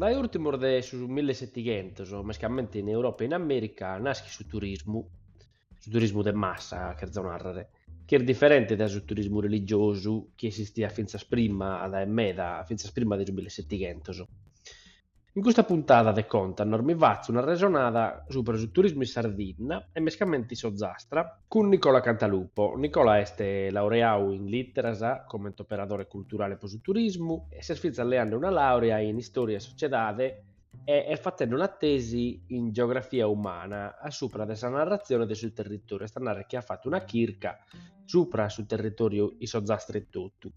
Dae ùrtimos de su mille e setighentos, mescamente in Europa e in Amèrica, naschet su turismu, su turismu de massa cherzo nàrrere, chi est diferente dae su turismu religiosu chi esistiat fintzas prima, dae meda, fintzas prima de su mille e setighentos. In custa puntada de Contanos mi fatzo un'arresonada subra su turismu in Sardinna e mescamente in s'Ozastra, cun Nicola Cantalupo. Nicola est laureau in Literas comente operadore culturale pro su turismu e s'est fintzas leande una laurea in Istoria e Sociedade e est fatende una tesi in Geografia Umana a subra de sa narratzione de su territoriu, est a narrer chi at fattu una chirca subra su territoriu in s'Ozastra etotu.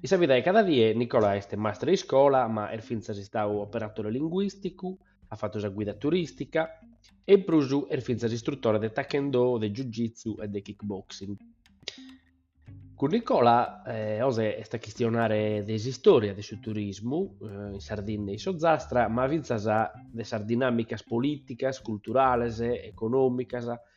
In sa vida de cada die Nicola est mastre de iscola, ma est fintzas istadu operatore linguìsticu, at fatu sa guida turìstica e in prus est fintzas istrutore de Taekwondo, de Jiu-Jitsu e de Kickboxing. Cun Nicola oje est a chistionare de s'istòria de su turismu in Sardinna e in s'Ozastra, ma fintzas de sas dinàmicas polìticas, culturales, econòmicas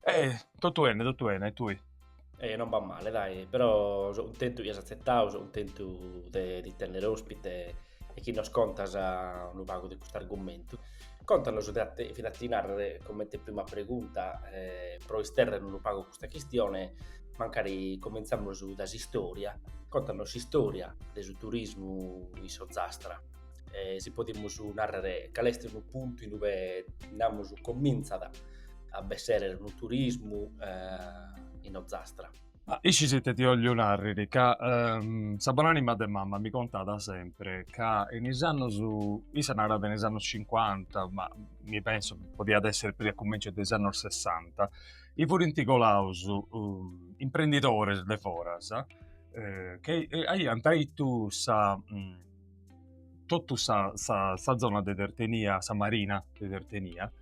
E totu bene, totu bene, e tui? Eh, non b'at male, dai, però so cuntentu chi as atzetau, so cuntentu de ti tènnere òspite e chi nos contas unu pagu de custu argumentu. Contanos, fiat a ti nàrrere comente prima pregunta, eh, pro istèrrere unu pagu custa chistione, mancari cumintzamus dae s'istòria, contanos s'istòria de su turismu in s'Ozastra. eh, si podimus narrare cale est unu puntu in ue, namus, cominzat a bessere unu turismu eh, in Ozastra. Ah, iscis ite ti ollo narriri ca ehm, sa bonanima de mamma mi contada sempre ca in is annos, issa narat in is annos 50, ma mi penso podiat essere puru a cummenciu de is annos 60, i furint colaus uh, imprendidores de foras eh, che aiant àpiu sa... Mm, totu sa sa sa zona de Tertenia, sa marina de Tertenia,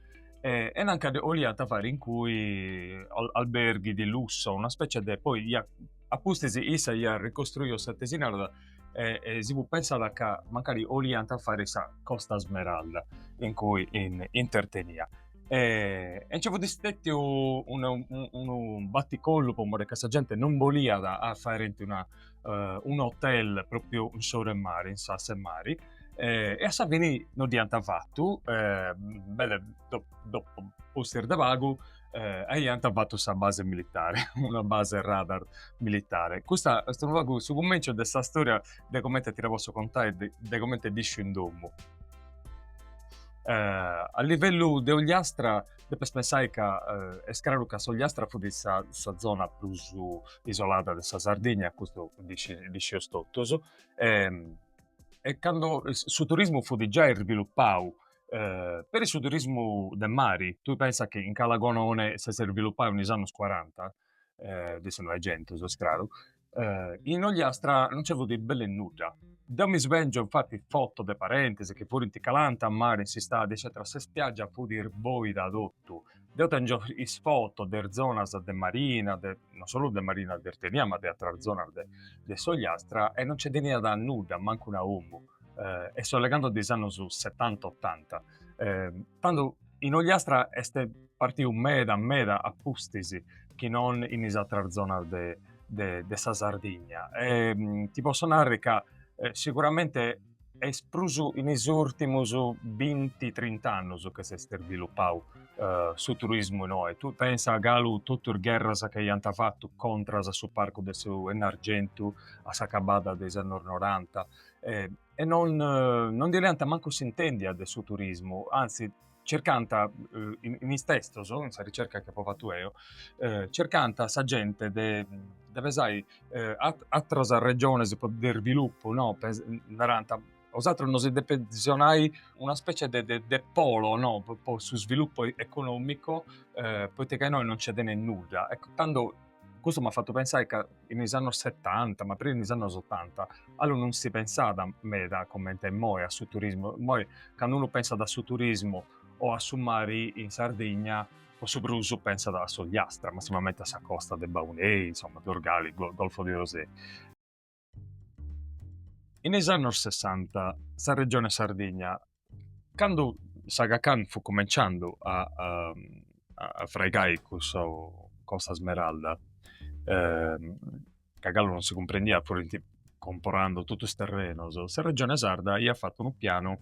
e, e nanca de, 'oliant fai incui alberghi di lusso, una specie de, poi iat, a pustis issa iat ricostruiu sa tesi narada, e e si fut pensada ca mancari 'oliant fai sa Costa Smeralda incui in in Tertenia. E nci fut stetiu unu unu batticollu po mori ca sa genti non 'oliat a faeri una eh, un hotel proprio in s'oru 'e mare, in s'ass'e mari, eh, e a sa fini non dd'iant fattu, eh, belle do, dopo pustis de pagu, eh, aiant fattu sa base militare, una base radar militare. Custa est unu pagu su cummencio de sa storia de comente ti la posso contare, de, de comente dd'iscio in domu. Eh, a livellu de Ogliastra depes pensai ca est craru ca s'Ogliastra fut sa sa zona prus isolada de sa Sardigna, custu ddi ddi scius totus e cando su turismu fut giai sviluppau peri su turismu de mari, tui pensa chi in Calagonone s'est sviluppau in is annus cuaranta de su Noegentu, ses craru, in Ogliastra non nci fut belle nudda. Deu mi svèngiu infati fotos de parentis chi furint calanta a mari in s'istadi eccètera sa spiaggia fut irbòida a totu. Deu tèngio is fotos der zonas de marina, de non solu de marina de Tertenia ma de ateras zonas de de s'Ogliastra e non nce teniat nudda, mancu una omu e seu legando de is annus setanta, otanta. Eh, tando in Ogliastra est partiu meda meda a pustis chi non in is atras zonas de, de, de sa Sardigna. E, mm, ti posso narri ca eh, sicuramente est prus in is urtimus 20-30 annus chi s'est sviluppau eh, su turismu inoi. Tui pensa galu totu is gherras che iant fatu contras a su parcu de su Ennargentu a s'acabada de is annus noranta, eh, e non, non ndi leant mancu s'intèndia de su turismu, antzis circant, in is testos, in sa ricerca chi apo fatu eo, circant sa genti de de pesai ateras regiones po de irvilupu no, narant, a usatrus nosi depet visionai una specie de de polo no, po su svilupu econòmicu, poita ca innoi non nci teneis nudda, eccu tando Custu m'at fatu pensai ca in is annos setanta, ma prus in is annos otanta, allu non si pensàt meda coment'e imoi a su turismu. Imoi candu unu pensat a su turismu o a su mari in Sardigna, po su prus pensat a s'Ogliastra, massimamenti a sa costa de Baunei, insoma, Dorgali, Golfo di Orosei. In is annos Sessanta sa Regione Sardigna, candu s'Aga Khan fut cumenciandu a a fraigai cussa Costa Smeralda ca galu non si cumprendiat furint comporando totu is terrenos, sa Regione Sarda iat fatu unu pianu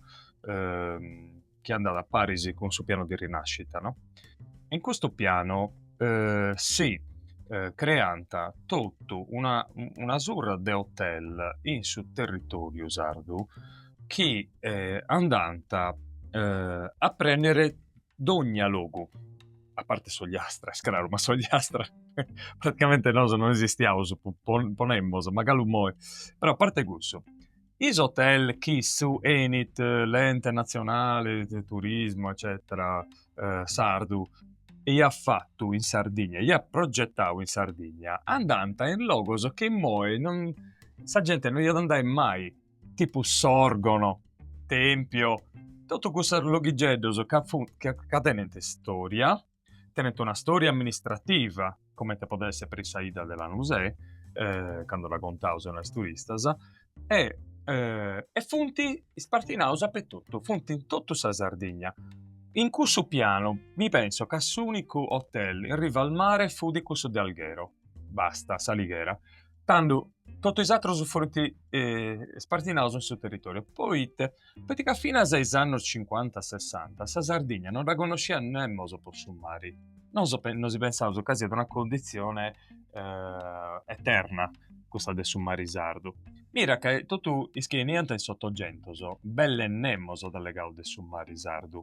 chi andat a paris cun su pianu de rinascita, no? In custu pianu eh, si eh, creant totu una, una surra de hotel in su territoriu sardu chi eh, andànt eh, a prendere dogna logu, a parte s'Ogliastra, est craru, ma s'Ogliastra praticamente nosu non esistiaus, po, po, ponemos, ma galu moi, però a parte cussu, is hotel chi su enit l'ente nazionale de turismo eccetera sardu iat fatu in Sardigna iat progettau in Sardigna andant in logos chi immoi sa gente non iat andai mai tipu Sòrgono Tempio totu cussus loghigeddos ca funt ca tenent storia tenent una storia amministrativa, comente podet esser peri sa 'idda de Lanusè, cando la contaus a is turistas, e e funt ispartinaus a pertottu, funt in tottu sa Sardigna. In cussu pianu mi penso ca s'unicu hotel in riva al mare fudi cussu de Alghero, basta, s'Alighera tando totu is atrus furunt spartinaus in su territoriu poita ca finas a is annus cincuanta sessanta sa Sardigna non dda connosciat nemos po su mari nosu nosu pensaus ca siat una cundizione eterna cussa de su mari sardu mira ca totu is chi 'eniant in s'otogentus belle nemos at allegau de su mari sardu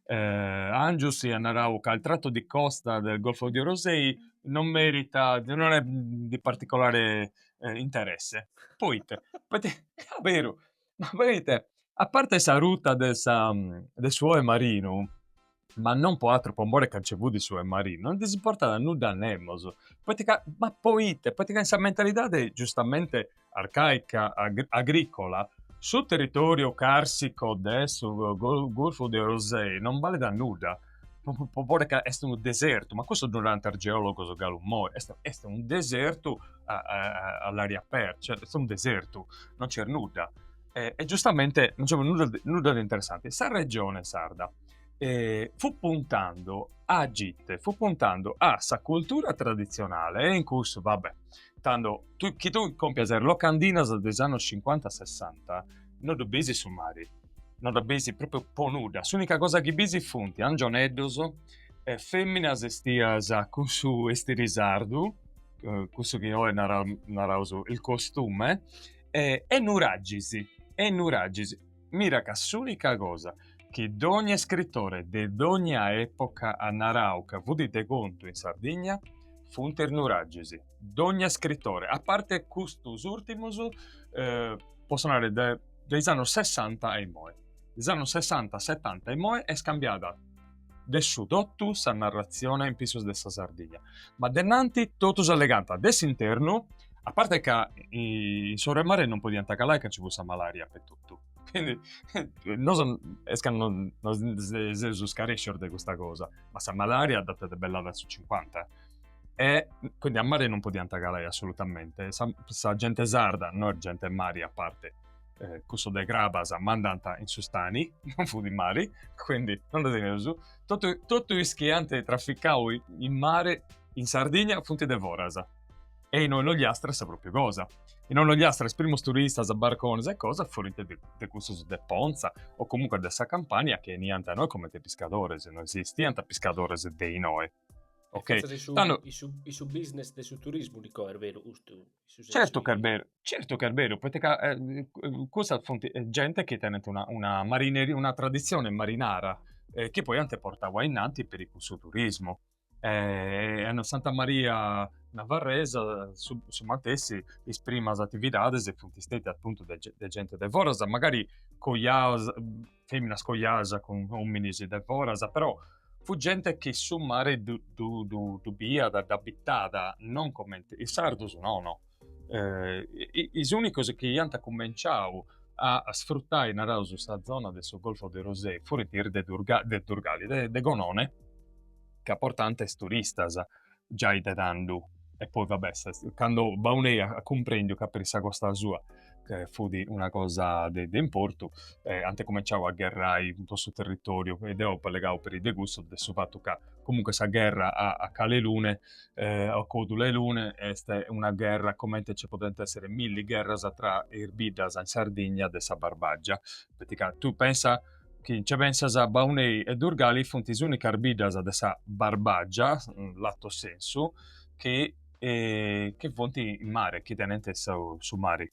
Angius iat narau ca il tratto di costa del Golfo di Orosei non merita, non è di particolare interesse, poita ca, beru, poita a parte sa ruta de sa de su oe marinu, ma non po atru po more ca nci fut su oe marinu, non ddis importat nudda a nemos, poita ca, ma poita, poita ca in sa mentalidadi giustamente arcàica agrìcola, su territòriu càrsico de su Golfu de Orosei non balet a nudda, poita ca est unu desertu, ma custu ddu narant is geòlogos galu imoi, est est unu desertu all'aria aperta, cioè est unu desertu, non nc'est nudda e giustamente non nci fut nudda nudda de interessanti. Sa Regione Sarda fut puntende a gite, fut puntende a sa cultura traditzionale e in cussu va bè tando tu, chi tu compias sas locandinas de is annos cincuanta sessanta no ddu bisi su mari, no dda bisi propriu po nudda, s'unica cosa chi bisi funt angioneddos e feminas 'estias cun su 'estiri sardu, cussu chi oi naraus il costume e nuraxis e nuraxis Mira ca s'unica cosa chi dogna iscritore de dogna epoca at narau ca fut de contu in Sardigna funt is nuraxis. Dogna iscritore, a parte custus urtimus, posso narri de de is annus sessanta a immoi, de is annus sessanta setanta a immoi est cambiada de su totu sa narratzione in pissus de sa Sardigna, ma de innanti totus allegant de s'internu, a parte ca in s'oru 'e mare non podiant calai ca nci fut sa malaria totu. Quindi, no est ca nos seus scarèscios de custa cosa, ma sa malaria dd'ant debellada su cincuanta. E quindi a mare non podiant calai assolutamente. Sa, sa gente sarda, no est gente 'e mari a parte, eh, cussos de Crabas ma andant in su stani, non fut in mari, quindi non dda teneus. Totu, totu is chi ant traficau in mare in Sardigna funt de foras. e inoi in Ogliastra sa pròpiu cosa. Inoi in Ogliastra is primus turistas, barcones e cosas furint de, de cussus de Ponza o comunque de sa Campania chi 'eniant a inoi comente piscadores, no esistiant piscadores de inoi. Ok, Fatza de su, tando- is su, is su business de su turismu dico, est beru, giustu. is su sensu Certu chi est chi- beru, certu chi est beru, poita ca eh, eh, cussas funt eh, genti chi tenent una, una marineria, una traditzione marinara, eh, chi poi ant portau ainnanti peri cun su turismu. E a Santa Maria Navarresa su, su matessi, is primas atividades funt stètias appuntu de de genti de foras, magari cojadas, fèminas cojadas cun òminis de foras, però fut genti chi su mare ddu ddu biiat, dd'abitat, non comente, is sardus nono. eh, is unicos chi iant cumenciau a sfrutai, naraus, sa zona de su Golfo de Orosei furint is de de Durgali, de de Gonone, ca portànt is turistas giai de tandhu e poi va bè, cando Baunei at cumprendiu ca peri sa costa sua fut una cosa de de importu ant cumenciau a gherrai po su territoriu e deu apu allegau peri de cussu, de su fatu ca comunque sa gherra a a Cala 'e Lune a Codula 'e Lune est una gherra comente nce podent èssere milli gherras tra is biddas in Sardigna de sa Barbàgia. Poita tui pensa chi nce pensas Baunei e Durgali funt is ùnicas biddas de sa Barbàgia, lato sensu, chi funt in mare, chi tenent su mari.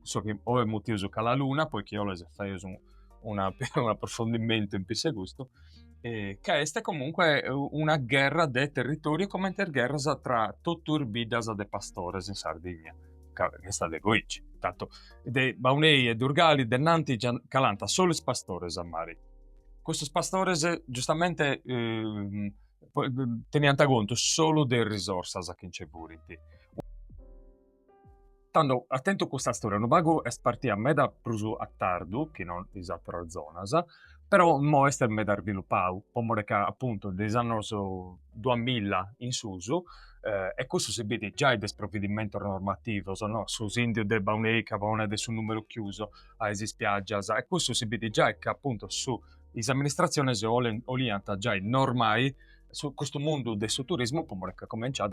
su chi oi mutius cala luna, poi chi 'oles faius un, una, un approfondimentu in pissu 'e custu, eh, ca est comunque una gherra de territoriu comente is gherras tra totu is biddas de pastores in Sardigna, ca est de goici, tantu de Baunei e Durgali de nanti calànt solu is pastores a mari, custus pastores giustamente eh, teniant contu solu de is risorsas chi nci furint. Tando at tentu custa storia unu pagu est partia meda prus a tardu chi no in is ateras zonas, però imoi est meda svilupau po more ca apuntu de is annos duamilla in susu, e cussu si bit giai de is provvedimentos normativos, no, su sìndiu de Baunei ca ponet su nùmeru chiusu a is ispiaggias, e cussu si bit giai ca apuntu su is amministratziones 'olint' 'oliant' giai normai su custu mundu de su turismu po more ca comenciat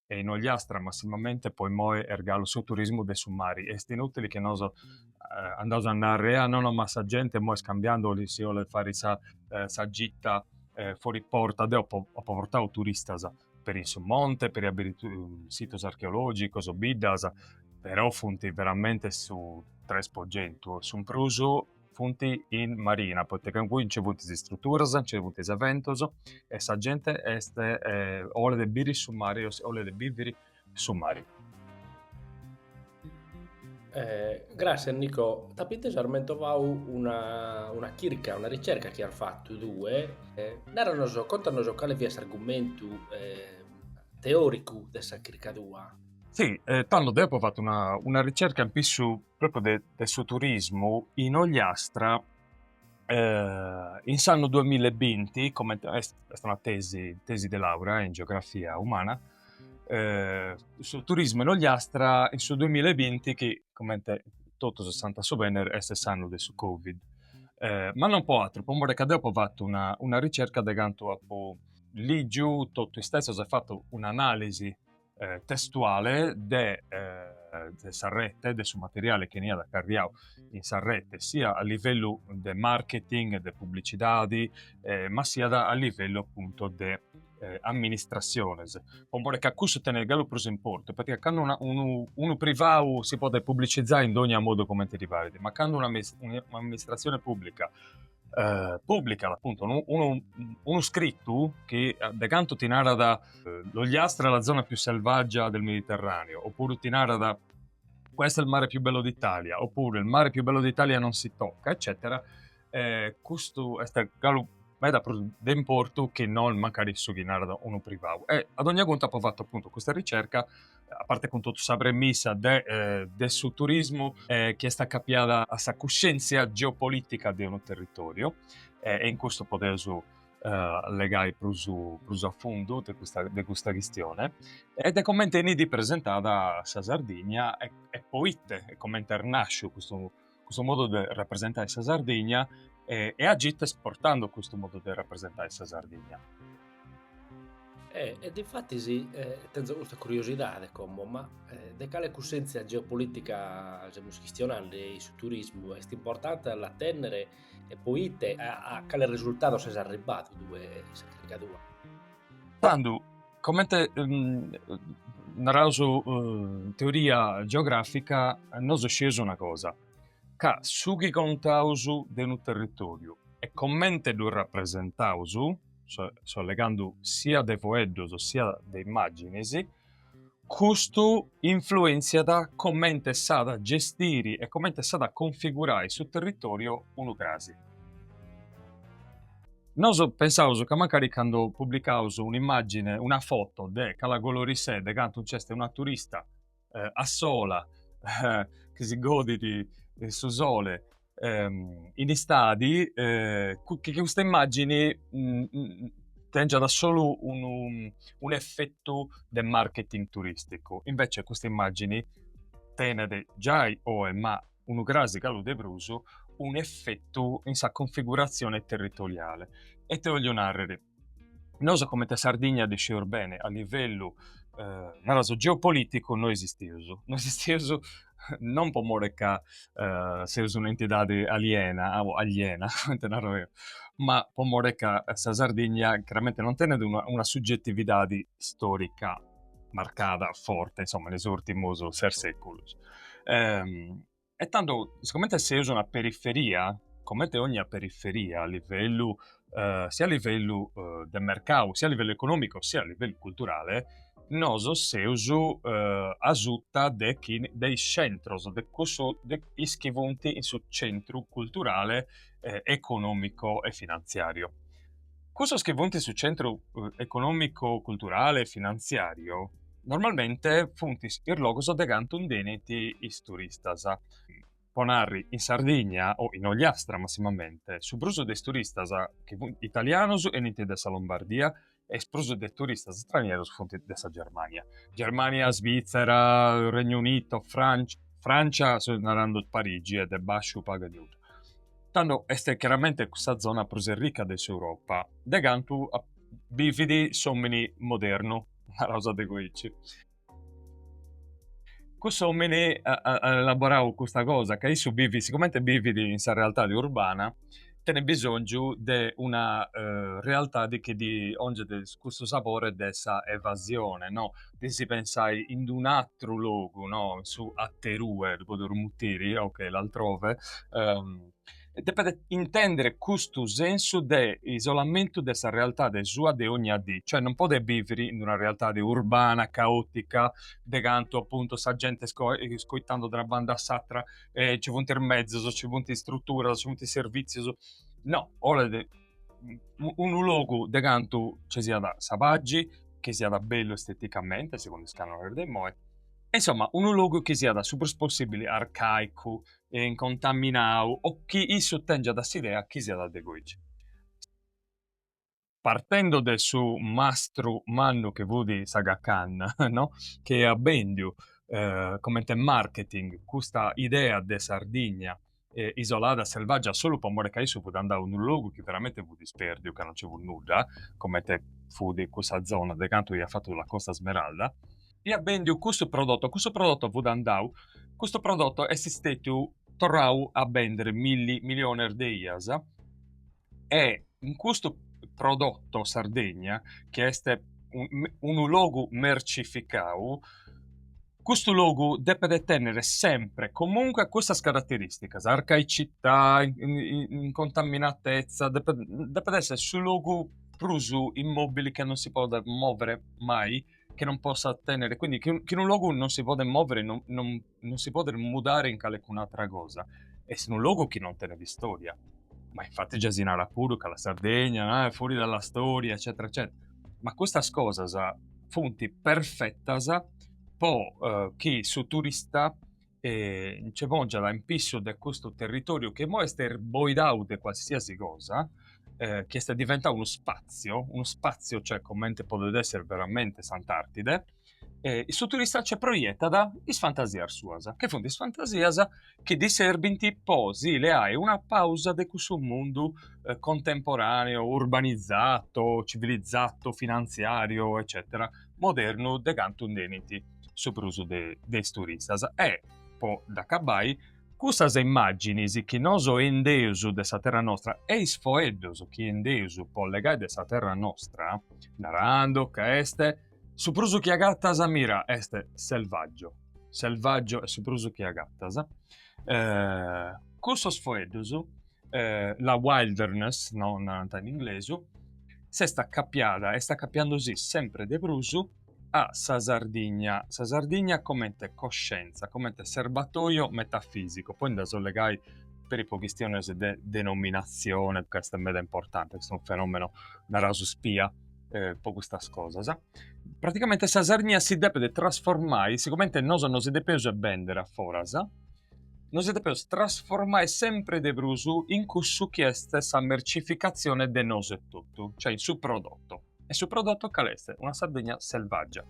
e in Ogliastra, massimamente po imoi est galu su turismu de su mari, est inutili chi nos andaus a narri, ah no no ma sa genti imoi est cambiandu si olet fari sa sa gita fori porta, deu apo apo portau turistas peri in su monte, peri a biri situs archeologicus, biddas, però funt veramente su tres po centu, su prus funt in marina, poita ca inguni nci funt is istruturas, nci funt is eventus e sa genti est, olit biri su mari, olit biviri su mari. Gràssias Nicò, t'apu intesu ar mentovau una una chirca, una ricerca chi as fatu tue, narranos, contanos cali fiat s'argumentu teoricu de sa chirca tua. Si, tando deu apu fatu una ricerca in pissu propriu de de su turismu in Ogliastra in s'annu duamilla e binti comente est est una tesi tesi de laura in geografia umana su turismu in Ogliastra in su duamilla e binti chi comente totus eus a subenner est s'annu de su covid ma non po atteru po more ca deo apo fatu una una ricerca de cantu a ligi totu istessos e fatu un'analisi eh, testuale de, eh, de sa rete, de su materiale chi 'eniat carriau in sa rete, sia a livello de marketing, de pubblicitadi, eh, ma sia a livello appunto de eh, amministraciones. Po more ca cusso tenet galu prus importu, perché quando una, unu, unu privau si podet pubblicizzare in dogna modo comente ddi paret, ma quando un'amministrazione pubblica eh, pùblicat appunto unu, unu, unu scrittu chi eh, de canto ti narat eh, l'Ogliastra è la zona più selvaggia del Mediterraneo, oppure ti narat questa è il mare più bello d'Italia, oppure il mare più bello d'Italia non si tocca, eccetera, eh, custu est galu meda prus de importu che non magari su chi narat unu privau. E ad ogni conto apo fatto appunto custa ricerca a parte cun totu sa premissa de de su turismu chi est acapiada a sa cuscèntzia geopolitica de unu territòriu e in custu podeus legai prus prus a fundu de custa de custa chistione e de comente 'enit presentada sa Sardigna e e poite e comente est nàsciu custu custu modu de rapresentai sa Sardigna e, e a chie est esportando custu modu de rapresentai sa Sardigna. E infatis, sì, tenzo custa curiosidade como, ma de cale cussèntzia geopolitica semus chistionendi? Su turismu est importante a la tènnere e po ite? A cale resurtados ses arribbadu tue in sa chirca tua? Tando Comente naraus in teoria geografica nosu sceus una cosa, ca su chi contaus de unu territoriu e comente ddu rapresentaus, so allegandu sia de fueddus sia de immaginis, custu influenziat comente s'at a gestiri e comente s'at a configurai su territoriu unu crasi. Nosu pensaus ca mancari candu publicaus un'immàgine, una foto de Cala Golorissè, de cantu nc'est una turista a sola chi si godit su sole in istadi, chi custa immàgini tèngiat solu unu un'efetu de marketing turìsticu. Invece custa immàgini tenet giai oe, ma unu crasi galu de prus, unu efetu in sa cunfiguratzione territoriale. E ite 'ollu nàrrere? Nosu comente a Sardigna ddi scius bene, a livellu, naraus, geopoliticu no esisteus, no esisteus non po more ca seus un'entidadi aliena, aliena comente naro deu, ma po more ca sa Sardigna chiaramente non tenet una suggetividadi storica marcada forte, insomma, in is urtimus ses seculus. Ehm, e tandu, sicomente seus una periferia, comente ogna periferia a livellu, eh, sia a livellu eh, de mercau, sia a livellu economico, sia a livellu culturale, nos seus eh, asuta de, chi, de is centros, de, cussu, de is chi funt in su centru culturale, eh, economico e finanziario. Cussos chi funt su centru econòmicu, culturale e finantziàriu normalmente funt is logus de cantu nd'enint is turistas. Po narri, in Sardigna o in Ogliastra massimamente, su prus de is turistas chi funt italianus enint de sa Lombardia e is prus de turistas stranierus funt de sa Germania. Germania, Svitzera, Regno Unito, Francia, Francia seu narande Parigi e de basciu pagu e nudda. tando est chiaramente cussa zona prus arrica de s'Europa, de cantu bivit s'omini modernu, naraus de goici. Cuss'omini at elaborau custa cosa, ca issu bivit, sigomente bivit in sa realtadi urbana, tenit bisongiu de una realtadi chi ddi 'onget cussu sapore de sa evasione no de si pensai in d'un'atteru logu, no in su atterue, ddu podeus mutiri, ok, l'altrove, depet intendere custu sensu de isolamentu de sa realtade sua de ogna dì, cioè non podet biviri in d'una realtade urbana, caotica, de cantu appuntu sa genti est coitando de una banda a s'attra e ci funt is mezus, ci funt is strutturas, ci funt is servizius, no, olet unu logu de cantu ci siat sa paxi, chi siat bellu esteticamente, segundu is canones de imoi, e insoma unu logu chi siat su prus possibili arcaicu e incontaminau o chi issu tengiat s'idea chi siat de goici. Partendu de su mastru mannu chi fut s'Aga Khan, no, chi iat bendiu comente marketing custa idea de Sardigna eh, isolada, selvaggia, solu po more ca issu fut andau in unu logu chi veramente fut ispèrdiu, ca non nce fut nudda, comente fut cussa zona de cantu iat fatu la Costa Smeralda, iat bèndiu cussu prodotto, custu prodotto fut andau, custu prodotto est stètiu torrau a bender milli milliones de ias, E in custu prodotto Sardegna, chi est unu logu mercificau, custu logu depet tenner sempre comunque custas carateristicas, arcaicità, incontaminatezza, depet depet esser su logu prus immobili chi non si podet mover mai, chi non possat tenner, quindi chi in unu logu non si podet mover non non non si podet mudare in calecun'atra cosa, est unu logu chi non tenet istòria, ma infati già si narat puru ca la Sardegna ah, est fuori dalla storia eccetera eccetera, ma custas cosas funt perfetas po chi su turista ce pòngiat in pissu de custu territòriu chi imoi est sboidau de qualsiasi cosa, chi est diventau unu spatzio, unu spatzio cioè comente podet esser veramente s'Antartide, E su turista nce proietat is fantasias suas, chi funt is fantasias chi ddi serbint po si leai una pausa de cussu mundu contemporaneo, urbanizzato, civilizzato, finanziario eccetera, modernu de cantu nd'enint su prus de is turistas. E po dd'acabai, custas immàginis chi nosu endeus de sa terra nostra e is foeddus chi endeus po legai de sa terra nostra, naràndu ca est Su prus chi agattas mira est Selvaggio. Selvaggio est su prus chi agattas. Eh, cussos foeddus, eh, la wilderness, no, narant in inglesu, s'est accapiada, est accapiandu si sempre de prus a sa Sardigna. Sa Sardigna comente coscienza, comente serbatoio metafisico. Poi nd'aus a legai peri po chistiones de denominazione ca est meda importante, est unu fenomeno, naraus spia, eh, po custas cosas, praticamente sa Sardigna si depet trasformai, sigomente nosu si depeus bender a foras, nosu si depeus trasformai sempre de prus in cussu chi est sa mercificatzione de nosu etotu, cioè in su prodotto. E su prodotto cale est? Una Sardigna selvaggia.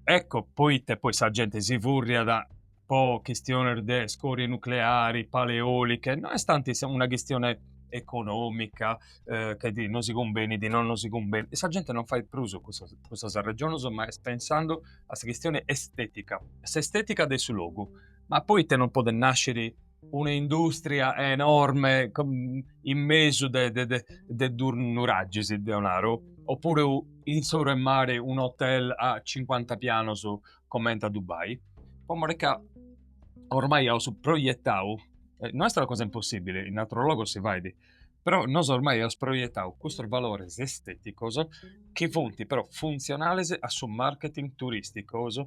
Ecco poite poi sa gente si furriat po chistiones de scorie nucleari, pale eoliche, no est tanti una chistione econòmica, chi ti no si cumbenit, no no si cumbenit, sa gente non fait prus custas custas arrexones, ma est pensando a sa chistione estetica, s'estetica de su logu, ma poita non podet nasciri una industria enorme in mesu de de de duus nuragis, deo naro, o puru in s'oru 'e mare un'hotel a cincuanta pianos comente a Dubai, po more ca ormai aus proietau, eh, no est una cosa impossibile, in ateros logos si fait, però nosu ormai aus proietau custos valores esteticos chi funt però funtzionales a su marketing turisticos,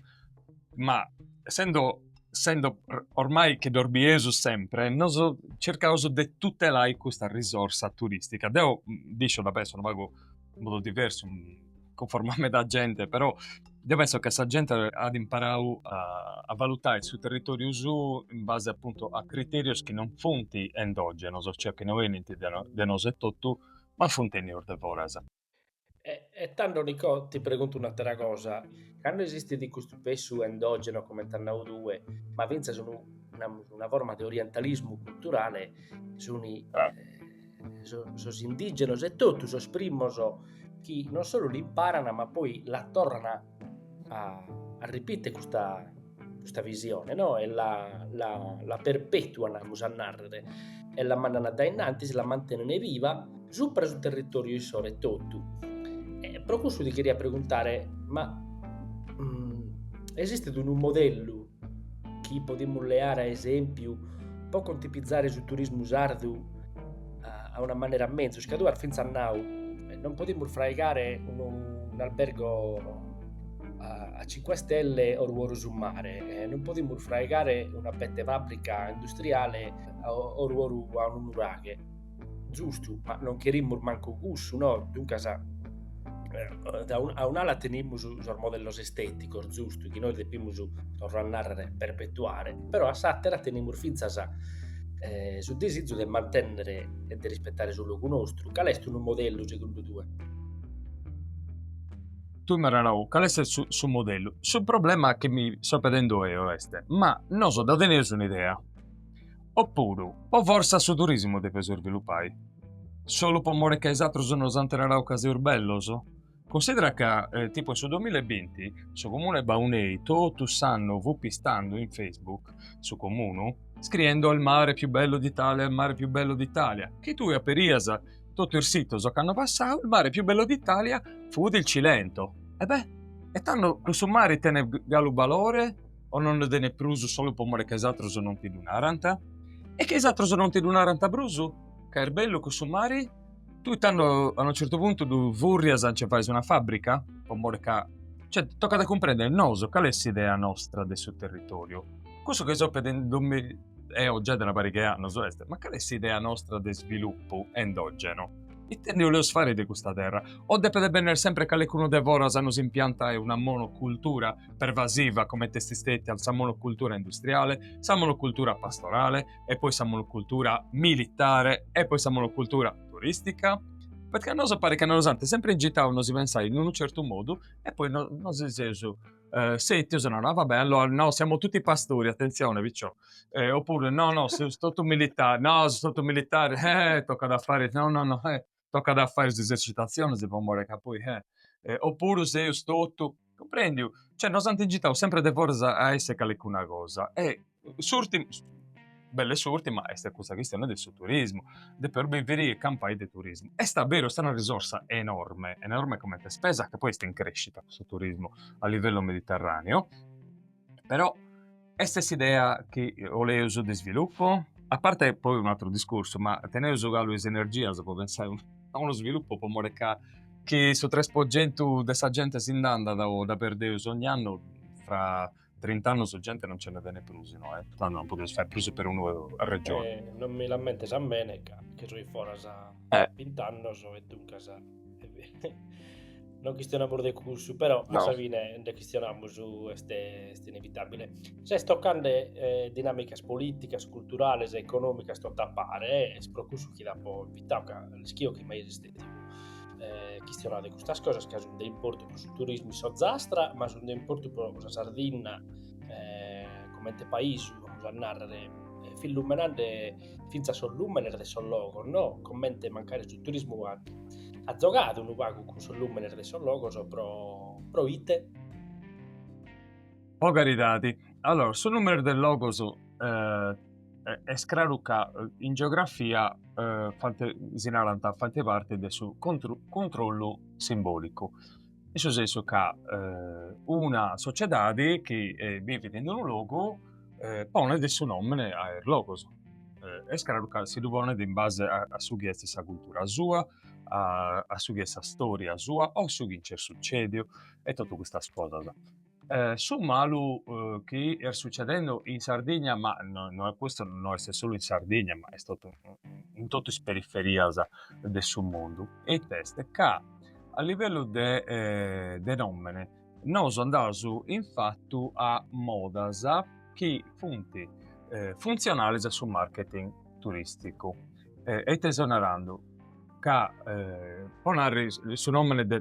ma essendo essendo ormai chi ddos bieus sempre, nosu circaus de tutelai custa risorsa turistica. Deu mm, nd'isciu, dda penso unu pagu in modu diversu, conforma a meda gente, però deo penso ca sa gente at imparau a a valutai su territoriu suu in base appuntu a criterius chi non funt endogenos, cioè chi no benint de nosu etotu, ma funt 'enius de foras. E tando Nicò ti preguntu un'atera cosa, cando esistit custu pessu endogeno comente as nau tue, ma fintzas unu namus una forma de orientalismu culturale, suni sos indìgenos etotu sos primos chi non solu l'imparan ma poi la torran a a arripite custa custa visione no e la la la perpetuan amus a narrer e la mandan a daennantis, la mantenen viva supra su territoriu issoro etotu. E pro cussu ti cheria preguntare ma esistit unu modellu chi podimus leare a esempiu po contipizare su turismu sardu a una manera menzus, ca tue as fintzas nau, non podimus fraigare un'albergo a cinque stelle oru oru su mare, non podimus fraigare una bete fabrica industriale oru oru a unu nuraghe Giustu, ma non cherimus mancu cussu, no? Duncas, eh, a un'ala tenimus sos modellos estéticos, giustu, chi nois depimus, torro a narrere, perpetuare, però a s'àtera tenimus fintzas eh, su desizu de mantènnere e de rispetare su logu nostru. Cale est unu modellu, segundu tue? tui m'as nau cale est su, su modellu. Su problema chi mi so pedendo eo est, ma noso dda teneus un'idea. Oppuru, po fortza su turismu depeus isvilupai? Solu po more ca is atrus nos ant narau ca seus bellus? Cunsidera ca, tipu in su duamilla e binti, su comunu 'e Baunei totu s'annu fut pistandu in Facebook, su comunu, scriendu il mare più bello d'Italia, el mare più bello d'Italia, chi tui aperias totu is situs ocannu passau, il mare più bello d'Italia fut il Cilento. E beh, e tando cussu mari tenet galu balore? o non nde tenet prus solu po more ca is atrus non ti ddu narant? E ca is atrus non ti ddu narant prus, ca est bellu cussu mari? Tui tando a unu certu puntu ddu furrias a nci fai una fàbrica? Po more ca, cioè, tocat a cumprèndere nosu cale est s'idea nostra de su territòriu. Cussu chi soi pedindomi eo giai de una pariga 'e annus, est, ma cale est s'idea nostra de svilupu endògenu? Ite ndi 'oleus fai de custa terra? O depet bènnere semper calecunu de foras a nos impiantai una monocultura pervasiva comente est stètia sa monocultura industriale, sa monocultura pastorale e poi sa monocultura militare e poi sa monocultura turistica? Perché a noso paret ca nos ant sempre ingitau a nosi pensai in unu certu modu e poi no, nosi seus eh, sètius e no no va bene, allora no, siamo tutti pastori, attenzione picciò, eh, oppure no no, seus totu militari, no, seus totu militari, eh, tocat a fare, no no no, eh. tocat a fai is esercitatzionis po more ca poi eh. Oppuru seus totu. Cumprendiu? Cioè nos ant ingitau sempri de foras a essi calicuna cosa e s'urtima, bella e s'urtima, est custa chistioni de su turismu, depeus biviri e campai de turismu. Est a beru, est una risorsa enorme, enorme comente spesa ca poi est in crescita custu turismu a livellu mediterraneo Però est s'idea chi 'oleus de svilupu? A parte poi un'atteru discursu, ma teneus galu is energias po pensai a unu svilupu po mori ca chi su tres po gentu de sa genti si nd'andat o dda perdeus ogni annu fra trint'annus genti non nce nde tenit prus inoi, tando non podeus fai prus perunu regionu. Non mi l'ammentes a mene ca chi soi foras bint'annus e duncas. non chistionamus de cussu, però no. a sa fine nde chistionamus, est, est inevitabile. Ses tocande eh, dinàmicas políticas, culturales e econòmicas tot'a pare, eh, est pro cussu chi t'apo invitau, ca l'ischio chi mai est stètiu eh, chistionau de custas cosas, ca sunt de importu pro su turismu in s'Ozastra, ma sunt de importu pro sa Sardinna eh, comente paisu, amus a narrere, eh, fis lumenande fintzas sos lùmenes de sos logos no, comente mancari su turismu at at zogadu unu pagu cun sos lùmenes de sos logos pro pro ite? Po caridadi, allora su lùmenes de logos est craru ca in geografia faghet si narant faghet parte de su controllu simbolicu in su sensu ca una sociedadi chi bivit in unu logu ponet su nomene a is logus, est craru ca si ddu ponet in base a su chi est sa cultura sua, a su chi est sa storia sua o su chi nc'est sucediu e totu custas cosas. su malu chi est sucedende in Sardigna, ma no custu no est solu in Sardigna ma est totu in totu is periferias de su mundu e ite est, ca a livellu de de nomene nosu andaus in fatu a modas chi funt funtzionales a su marketing turisticu e ite seu narandu, ca po narrer su nomene de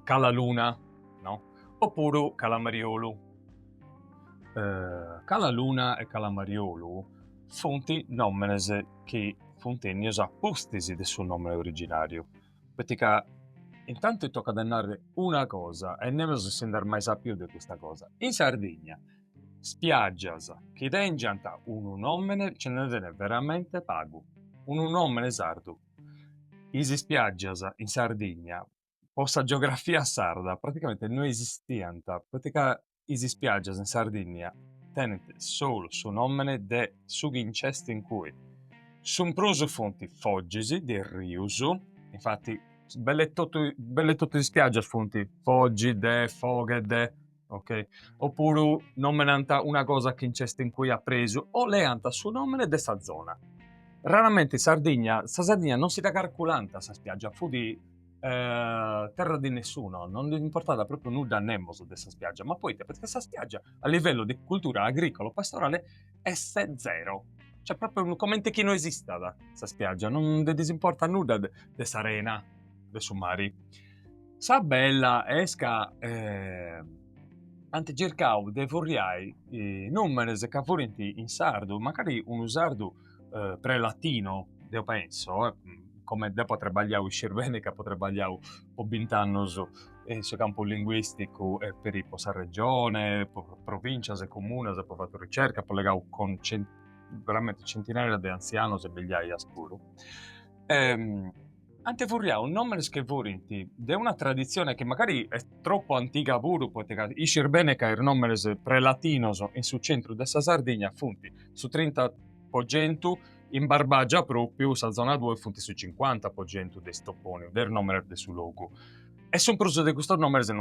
Cala Luna no o puru Cala Mariolu. Cala Luna e Cala Mariolu funt nòmenes chi funt ènnios a pustis de su nòmene originàriu, poita ca intanti tocat a narrer una cosa e nemus si nd'est mai sàpiu de custa cosa, in Sardigna spiàgias chi tèngiant unu nòmene nce nde tenet veramente pagu, unu nòmene sardu, is spiàgias in Sardigna po sa geografia sarda praticamente no esistiant, poita ca is ispiàgias in Sardìnnia tenint solu su nòmene de su chi nc'est in cui. Su prus funt fogis de rius, infati belle totu is ispiàgias funt fogi de, foghe de, ok? Oppuru nomenant una cosa chi nc'est in cui a presu o leant su nomene de sa zona. Raramente in Sardigna, sa Sardigna non si dda carculant sa spiaggia, fut eh, terra di nessuno, non ndi importat propriu nudda a nemos de sa spiaggia, ma poita? Perchè sa spiaggia a livellu de cultura agricolo-pastorale est zero, cioè propriu comente chi no esistat sa spiaggia, non ndi ddis importat nudda de s'arena de su mari. Sa bella est ca ant circau de furriai nùmenes ca furint in sardu, mancari unu sardu pre-latino, deu pentzu, comente deu apo trabagliau, iscis beni ca apo trabagliau po bint'annus in su campu linguisticu e peri po sa Regione, po provincias e comunas apo fatu ricerca, apo allegau cun veramenti centinaias de antzianus e migliaias puru ant furriadu nòmenes chi furint de una traditzione chi magari est tropu antiga puru, poita ca iscis bene ca is nòmenes prelatinos in su centru de sa Sardigna funt su trinta po centu, in Barbagia pròpriu, sa zona tue, funt su cincuanta po centu de is topònimos, de is nòmenes de su logu. E su prus de custos nòmenes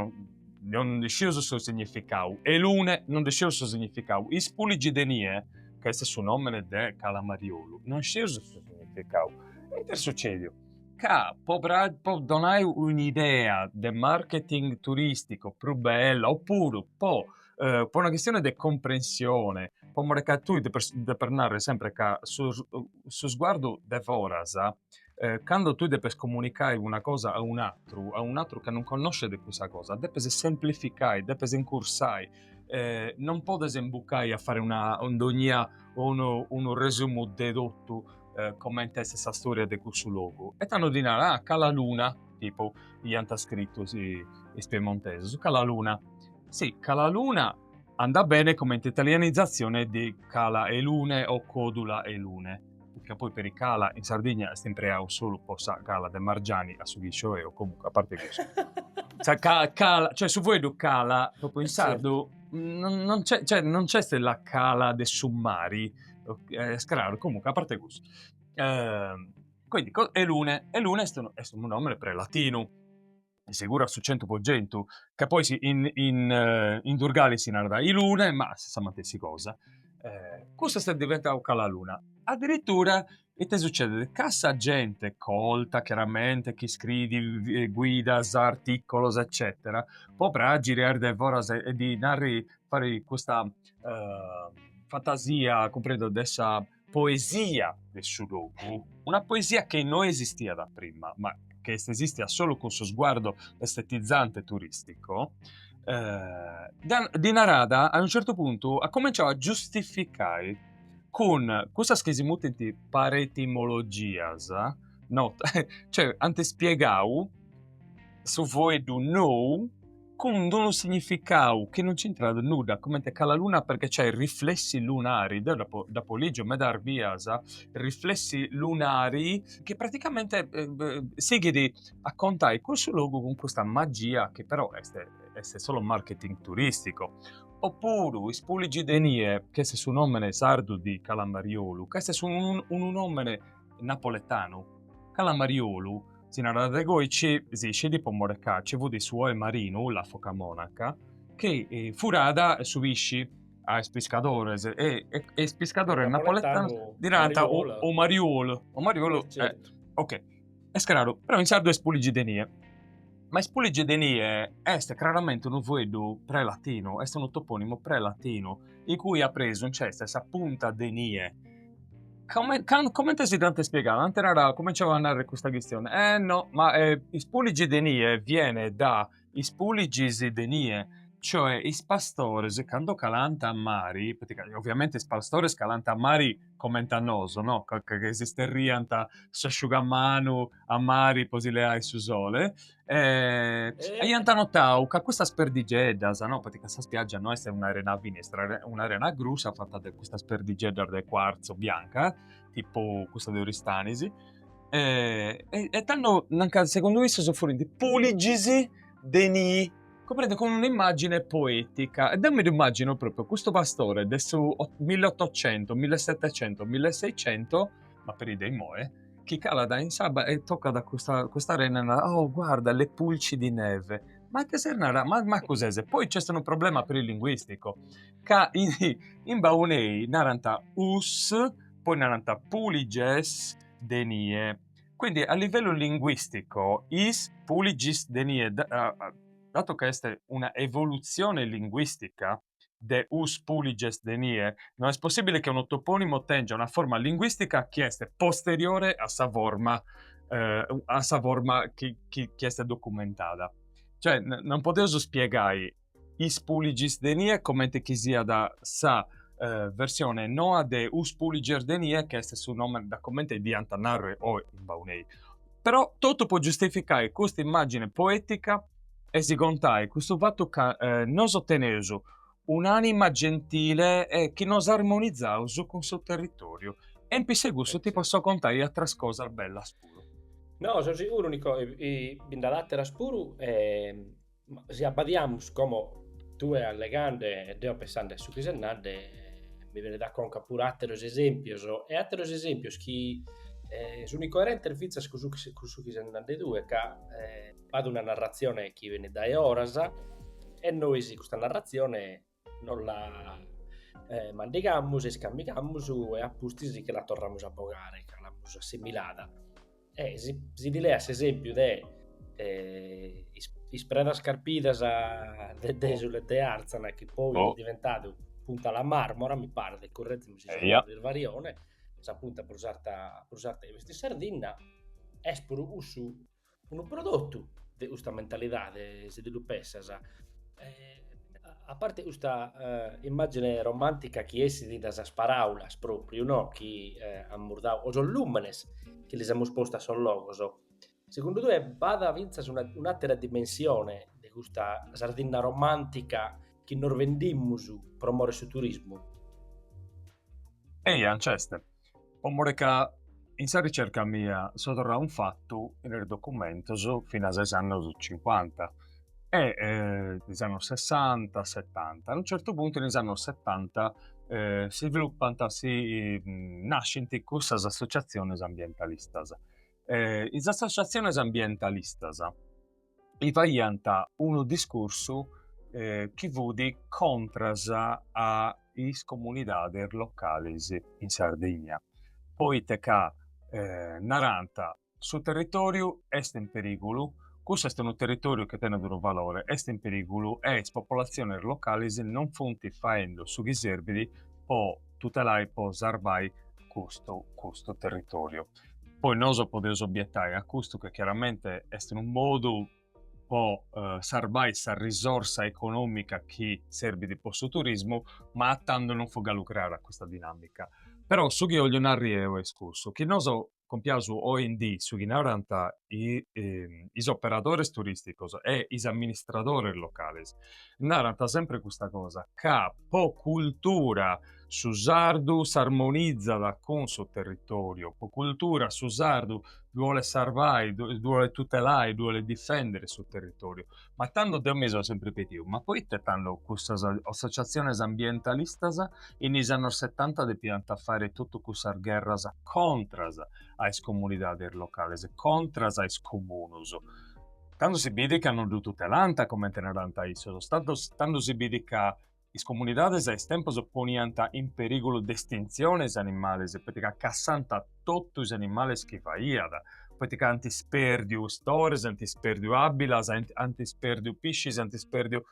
non nd'iscius su significau, Elune, non nd'iscius su significau, Ispuligidenie, ca est su nomene de Cala Mariolu, non iscius su significau. E ite est sucediu? Ca po po donai un'idea de marketing turistico prus bella, oppuru po po una chistione de comprensione, po more ca tui depis narri sempri ca su su sguardu de foras Eh, cando tui depes comunicai una cosa a un atru, a un atru ca non connosce de cussa cosa, depes semplificai, depes incursai, eh, non podes imbucai a fare una ondonia o unu, unu resumu de totu eh, comente est sa storia de cussu logu. E tando ddi narat, ah, Cala Luna, tipu, iant scritu si, is piemontesus, Cala Luna. Si, Cala Luna andat bene comente italianizatzione de Cala 'e Lune o Codula 'e Lune. ca poi peri cala in Sardigna est impreau solu po sa cala de Margiani a su chi iscio eo, comunque a parte cussu. Sa ca- cala, cioè su fueddu cala, propriu in sardu non non c'è, cioè non c'est la cala de su mari, est craru, comunque a parte cussu. Quindi Elune, Elune est unu est unu nomene pre latinu seguru a su centu po centu, ca poi si in in in Durgali si narat Ilune ma est sa matessi cosa, custa est diventau Cala Luna, addirittura ite succedet, ca sa gente colta chiaramente chi scriit guidas, articolos eccetera, po praxiri a is de foras e ddi narri fari custa fantasia cumprèndiu de sa poesia de su logu, una poesia che no esistiat a prima, ma che est esistia solu cun su sguardo estetizante turistico, ddi narat a unu certu puntu, at cominciau a giustificai cun cussas chi si mutint paretimologias, no, cioè ant spiegau su fueddu nou cun d'unu significau chi non c'intrat nudda, comente Cala Luna perché c'ha i riflessi lunari, deo dd'apo dd'apo lìgiu medas bias, riflessi lunari, chi praticamente sighit a contai cussu logu cun custa magia chi però est est solu marketing turistico. Oppuru is Puligi de Nie, ch'est su nòmene sardu di Cala Mariolu, ch'est su unu nòmene napoletanu, Cala Mariolu, si narat de goi ci si iscit po more ca ci fut su oe marinu, la foca monaca, chi furat su pisci a is piscadores e is piscadores napoletanos ddi narant o mariolu, o mariolu, ok, est craru, però in sardu est Puligi de Nie. Ma is Puligi de Nie est craramente unu fueddu pre-latinu, est unu topònimu pre-latinu, in cui a presu nc'est sa punta de nie. Come, can, comente si dd'ant ispiegadu? Ant naradu, cominciau a narrer custa chistione, eh no, ma eh, is Puligi de Nie viene da is Puligis de nie, cioè is pastores cando calant a mari, poita ca oviamente is pastores calant a mari comente a nosu, no, ca ca ca si sterriant s'asciugamanu, a mari po si leai su sole e aiant notau ca custas perdigeddas, no, poita ca sa spiaggia no est un'arena fina, est un'arena grussa fata de custas perdigeddas de cuarzo bianca, tipu cussa de Oristanis, e e tando nch'ant, segundu issos furint puligis de nii, cumprende, cun un'immagine poetica e deu mi ddu immagino propriu custu pastore de su mill'ottocentu, millesetecientu, milleseicentu, ma peri de immoe, chi calat in s'abba e tocat custa, custa arena e narat, oh guarda, le pulci di neve. Ma ite ses narà? Macu ses? Poi nc'est unu problema peri linguisticu, ca in in Baunei narant us, poi narant puliges de nie. Quindi a livello linguistico is puligis de nie, dato ca est una evoluzione linguistica, de us puliges de nie, no est possìbile che unu topònimo tèngia una forma linguìstica chi est posteriore a sa forma a sa forma chi chi chi est documentada. Cioè non podeus spiegai is puligis de nie comente chi siat sa versione noa de us puliges de nie chi est su nomene da comente dd'iant narrer oe in Baunei. Però totu po giustificai custa immàgine poètica e si contai custu fatu ca nosu teneus un'ànima gentile e chi nos armonizaus cun su territòriu. E in pissu 'e cussu ti posso contai àteras cosas bellas puru. No, so siguru Nico, bi nd'at àteras puru e Ma si abbadiamus como tue allegande e deo pensande a su chi ses nande, mi benit a conca puru àteros esèmpios, e àteros esèmpios chi sunt incoerentes fintzas cun su chi cun su chi ses nande tue, ca b'at una narratzione chi benit dae foras e nois custa narratzione Nos la eh, mandigamus e iscammigamus e a pustis che la torramus a bogare, ca l'amus assimilada. E si, si ti leas s'esempiu de eh, is, is predas carpidas de Desulo e de Arzana, chi poi est diventadu punta La Marmora, mi paret, correggimi si est unu isvarione, sa punta prus arta, prus arta chi b'est in Sardinna, est puru cussu Unu prodotu de custa mentalidade, si ti lu pessas, a parte custa immàgine romàntica chi essit de sas paràulas pròpriu no chi amus dadu, o sos lùmenes chi lis amus postu a sos logos, segundu tue b'at fintzas un'àtera dimensione de custa Sardinna romàntica chi nos vendimus pro more 'e su turismu? Eia, nc'est. Po more ca in sa ricerca mia so torrau in fatu in is documentus finas a is annus cincuanta e is annus sessanta, setanta. A unu certu puntu in is annus setanta s'isviluppant, si nascint cussas associazionis ambientalistas. is associazionis ambientalistas faiant unu discursu eh, chi fut contras a is comunidades locales in Sardigna, poita ca eh, narant su territòriu est in perìgulu, cussu est unu territòriu chi tenit unu valore, est in perìgulu e is popolatziones locales non funt faende su chi serbit po tutelai, po sarvai custu, custu territòriu. Poi noso podeus obietai a custu che chiaramente est unu modu po eh, sarbai sa risorsa economica chi serbit po su turismu, ma a tando non fut galu creada custa dinamica. Però su chi 'ollu narri eu est cussu, chi noso compiaus oindì su chi narant is operadores turisticos e is amministradores locales, narant sempre custa cosa, ca po cultura Su sardu s'armonizat cun su territòriu, po cultura su sardu ddu bolet sarvai, ddu bolet tutelai, ddu bolet difèndere su territòriu. Ma tando, deu mi seu sempri pediu, ma poita tando cussas associatziones ambientalistas in is annos setanta depiant fai totu cussas gherras contras a is comunidades locales, contras a is comunus? Tando si bidit ca non ddu tutelànt, comente narant issos, tando si bidit ca Is comunidades a is tempus poniant in perìgulu de estintzione is animales, poita ca cassànt totu is animales chi faiat, poita ca nc'ant ispèrdiu stores, ant ispèrdiu àbilas, ant ispèrdiu piscis, ant ispèrdiu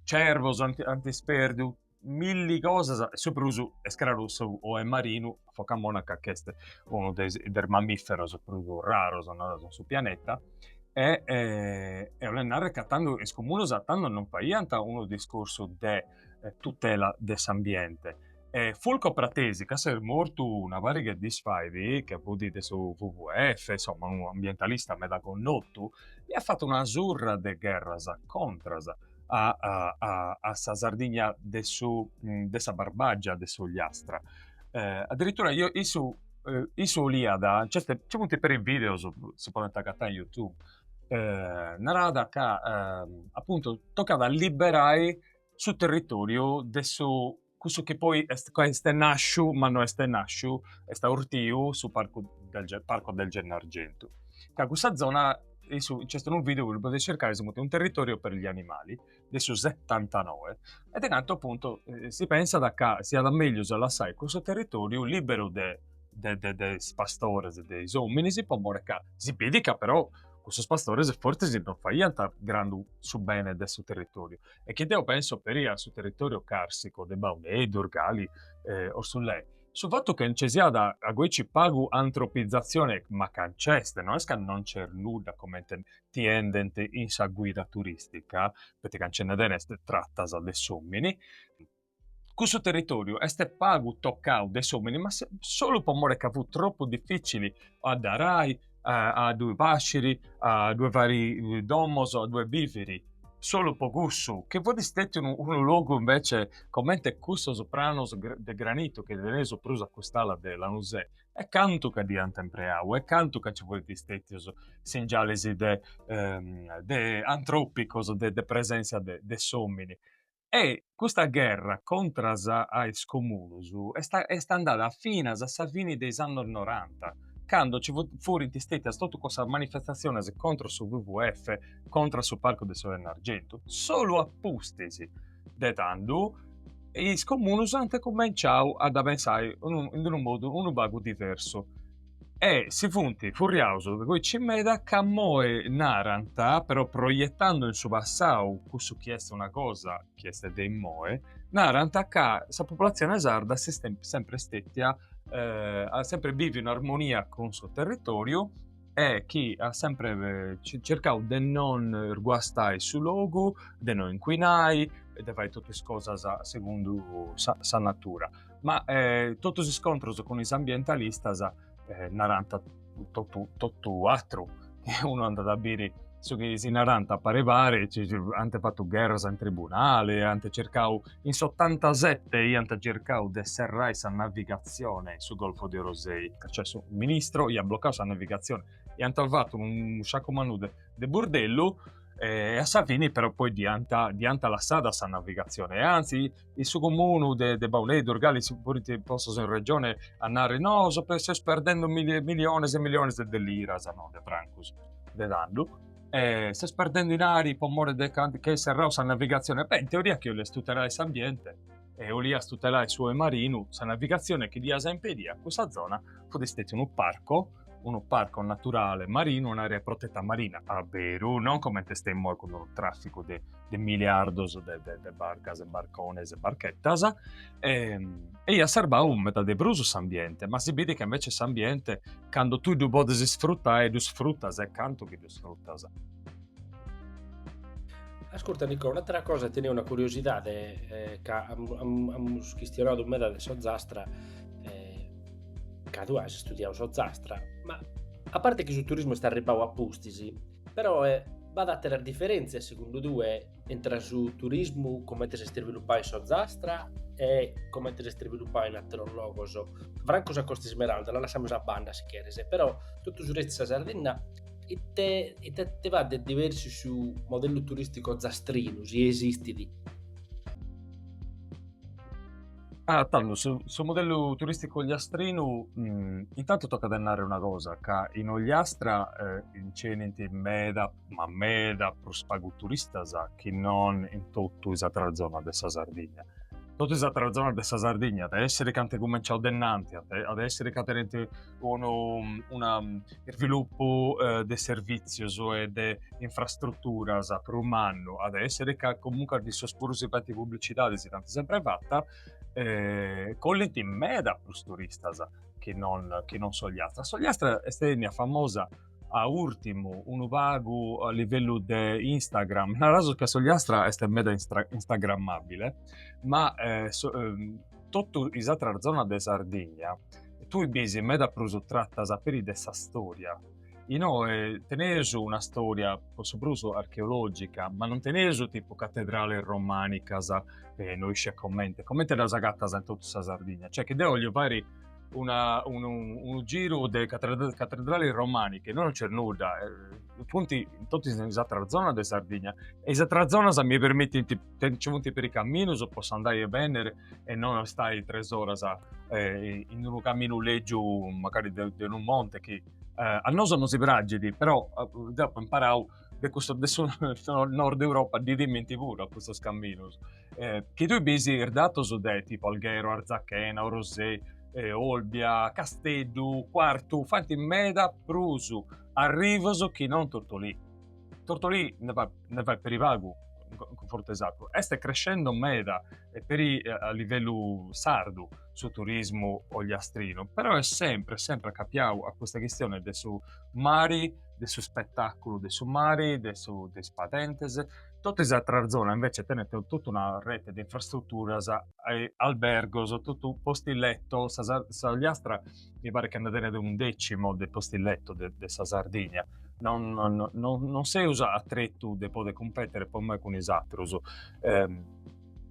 cervos, ant ispèrdiu milli cosas e su prus iscraru s'oe marinu a foca monaca ch'est unu de is de is mammiferos prus raros, naraus, in su pianeta e e 'olet narrer ca tando is comunos a tando non faiant unu discursu de tutela de s'ambiente e Fulco Pratesi ca s'est mortu una pariga 'e dis fait chi fut de su WWF, insomma unu ambientalista meda connotu, iat fatu una surra de gherras contras a a a sa Sardigna de su de sa Barbàgia de s'Ogliastra Eh, addirittura issu, issu, eh, issu oliada, certe, ci funt peri videos, si podent agatai in YouTube, eh, narada ca, eh, appuntu, tocat a liberai su territoriu de su, cussu chi poi est, ca est nasciu, ma no est nasciu, est aurtiu su parcu del Ge- parco del Gennargentu, ca cussa zona, issu, nc'est unu video chi lu podis circai, si funt, un territorio per gli animali de su setantanoe e de cantu appuntu eh, si pensat ca siat meglius a lassai cussu territoriu liberu de, de, de, de is pastores e de is ominis po more ca si biit ca però cussus pastores fortzis non faiant grandu su bene de su territoriu e chi deu penso peri a su territoriu carsico de Baunei, Durgali, eh, Orthulei su fatu ca nci siat agoici pagu antropizatzione ma ca nc'est, no est ca non nc'est nudda comente ti bendent in sa guida turistica, poita ca nci nd'est tratas de s'omini, cussu territoriu est pagu tocau de s'omini ma solu po mori ca fut tropu dificili a dda arai, a ddui pasciri, a ddui fai domos, a ddui biviri. Solu po cussu, chi fut stetiu unu logu invece comente cussus pranos de granitu chi teneus prus a cust'ala de Lanusei e cantu ca dd'hiant empreau e cantu ca nci furint stetius singialis de de antropicus de de presentzia de de s'omini. E custa gherra contras a is comunus est est andada finas a sa fini de is annus noranta candu nci funt furint stetias totus cussas manifestatzionis contras su WWF, contras su parcu de su Gennargentu, solu a pustis de tando is comunus ant cumenciau a dda pensai in unu modu unu pagu diversu e si funt furriaus aici meda ca moi narant, però proietando in su passau cussu chi est una cosa chi est de imoi, narant ca sa populatzioni sarda s'est sempri stetia, at sempri biviu in armonia cun su territòriu e chi at sempre cercau de non guastai su logu, de no incuinai e de fai totu is cosas segundu sa sa natura. Ma eh totu is iscontros cun is ambientalistas eh narant totu totu atru, unu andat a biri su chi si narant a pari pari, ant fatu gherras in tribunali, ant cercau In s'otantasette iant circau de serrai sa navigatzione in su Golfo de Orosei, cioè su ministro iat blocau sa navigatzione, iant fatu unu sacu mannu de burdellu e a sa fini però poi dd'iant dd'iant lassada sa navigatzione e anzi in su comunu de de Baunei, Durgali si furint postus in regione a nai nos seus perdende miliones e miliones de liras, no de francus, de tandus Eh, seus perdende dinari po more de ca nch'est serrau sa navigatzione. Beh, in teoria chi 'olias tutelai s'ambiente e 'olias tutelai su 'oe marinu, sa navigatzione chi dd'ias a impedì a cussa zona fut stetiu unu parco, unu parco naturale marinu, un'area protetta marina, a beru, non coment'est immoe cun unu trafficu de de miliardos de, de, de barcas e barcones e barchetas e, e iat a serbai meda de prus s'ambiente, ma si bidit ca invece s'ambiente cando tui ddu podes sfrutai ddu sfrutas e cantu chi ddu sfrutas. Ascurta Nico, un'atera cosa tenia una curiosidade eh, ca amus chistionau meda de s'Ozastra eh, ca tu has studiau s'Ozastra, ma a parte chi su turismo est arribau a pustis, Peròe, b'at àteras diferèntzias, segundu tue, intre su turismu comente s'est isvilupau in s'Ozastra e comente s'est isvilupau in àteros logos? Francu sa Costa Ismeralda la lassamus a banda, si cheres, però totu su restu 'e sa Sardinna, ite ite ite b'at de diversu su modellu turìsticu ozastrinu, si esistit? Ah, tando, su, su modellu turisticu ogliastrinu, mm, intanto toca de narrere una cosa, ca in Ogliastra eh, inc'enint meda, ma meda prus pagu turistas chi non in totu is atras zonas de sa Sardigna. Totu is atras zonas de sa Sardigna, at a essiri ca ant cumenciau de innanti, at a essiri ca tenint unu isvilupu de servìtzios e de infrastruturas prus mannu at a èssere ca comunque a issos puru si faint publicidade si dd'ant sempre fata e collint meda prus turistas chi non s'Ogliastra. S'Ogliastra est ennia famosa a urtimu unu pagu a livellu de Instagram, naraus ca s'Ogliastra est meda instagrammabile, ma totu is atras zonas de Sardigna tui bis meda prus tratas peri de sa storia. Inoi teneus una storia po su prus archeologica, ma non teneus tipu catedrales romanicas, non iscio comente, comente ddas agatas in totu sa Sardigna, cioè chi deu 'ollu fai una, un, unu giru de cattedrali romaniche, innoi non c'è nudda, eh, funt in totu is ateras zonas de Sardigna e is ateras zonas mi permittint, nci funt peri caminus e possu andai e benniri e non istai tres oras eh, in unu caminu lègiu macari de, de unu monte chi eh, a nosu nosi praxit, però eh, deu apu imparau, is de su Nord Europa ddi timint puru a custus caminus. eh, chi tui bis ir datos de tipo Alghero, Arzachena, Orosei, eh, Olbia, Casteddu, Quartu, fanti meda prus arrivos chi non Tortolì. Tortolì ne fait, ne fait peri pagu in confrontu a is atrus. Est crescendo meda e peri eh, a livellu sardu su turismu ogliastrinu, però è sempre, sempre accapiau a custa chistione de su mari, de su spettaculu de su mari, de, su, de is padentes, Totu is atras zonas invece tenent totu una rete de infrastruturas e albergos, totu posti letto, s'Ogliastra mi paret chi ant a tenere un decimo de posti letto de de sa Sardigna, non non non seus a tretu de poder cumpetere po moi cun is atrus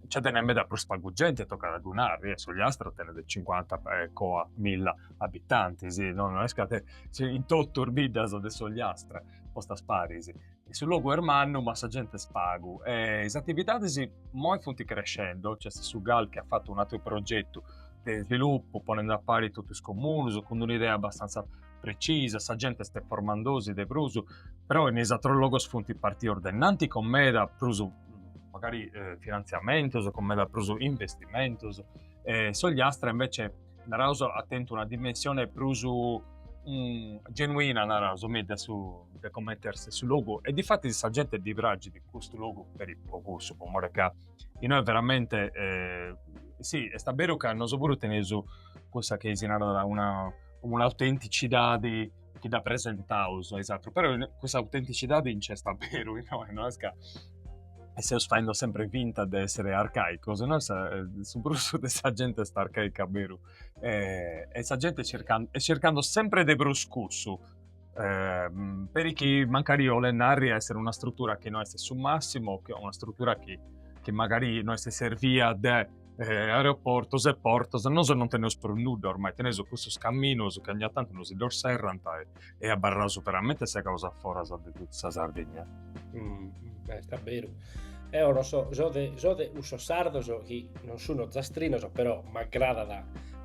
nce tenet meda prus pagu genti e tocat a ddu nai, e s'Ogliastra tenet cincuanta e coa milla abitantis, no no est ca tenet in totu is biddas de s'Ogliastra postas paris Su logu est mannu ma sa gente est pagu e is atividadis moi funt crescendo, nc'est su gal chi at fatu un'àteru progetu de svilupu ponende a pari totu is comunus cun una idea abastanza precisa, sa gente est formandosi de prus, però in is atrus logus funt partius de innanti cun meda prus magari finantziamentus, cun meda prus investimentus e s'ogliastra invece naraus at tentu una dimensione prus genuina naraus mi de su de comente est su logu e difatis sa gente ddi praxit custu logu peri po cussu po more ca innoi veramente si est a beru ca nosu puru teneus cussa chi si narat una un'autenticidade chi dda presentaus a is atrus, però cussa autenticidade nc'est a beru innoi, no est ca seus faendo sempre finta de essere arcaicus, no est, su prus de sa gente est arcaica a beru e sa gente est circando sempre de prus cussu peri chi mancari 'olet narri a essere una strutura chi no est su massimu o una strutura chi chi magari no est servia de eh, aeroportos e portos, nosu non teneus prus nudda ormai, teneus custus caminos chi ogna tantu nosi ddos serrant e, e abarraus veramente segaus a foras de totu sa Sardigna. Mm, beh, est a beru. Deo no so, so de cussos sardos chi non so ozastrinu, però m'agradat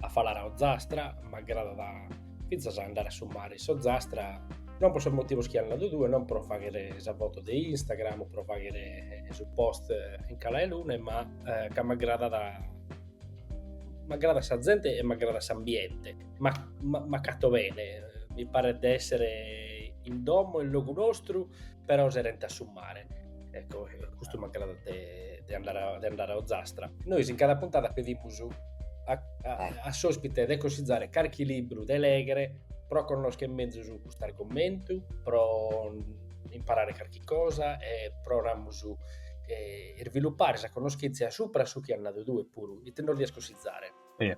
a falare a Ozastra, m'agradat a finzas a andare a su mare s'Ozastra, non pro sos motivos chi as nadu tue, non pro faghere sa foto de Instagram, pro faghere su post in Cala 'e Luna, ma eh, ca m'agradat m'agradat sa zente e m'agradat s'ambiente m'acato bene mi paret de essere in domo in logu nostru però serente a su mare ecco, custu m'agradat de, de, andare a, de andare a Ozastra nois in cada puntada pedimus a, a, eh. a s'ospite de cosizzare carchi libru de leghere pro connosche mezus custu argomentu pro imparare carchi cosa e pro prus, eh, sviluppare sa conoschèntzia supra su chi as nadu tue puru, ite nos dies cusizare? Sì.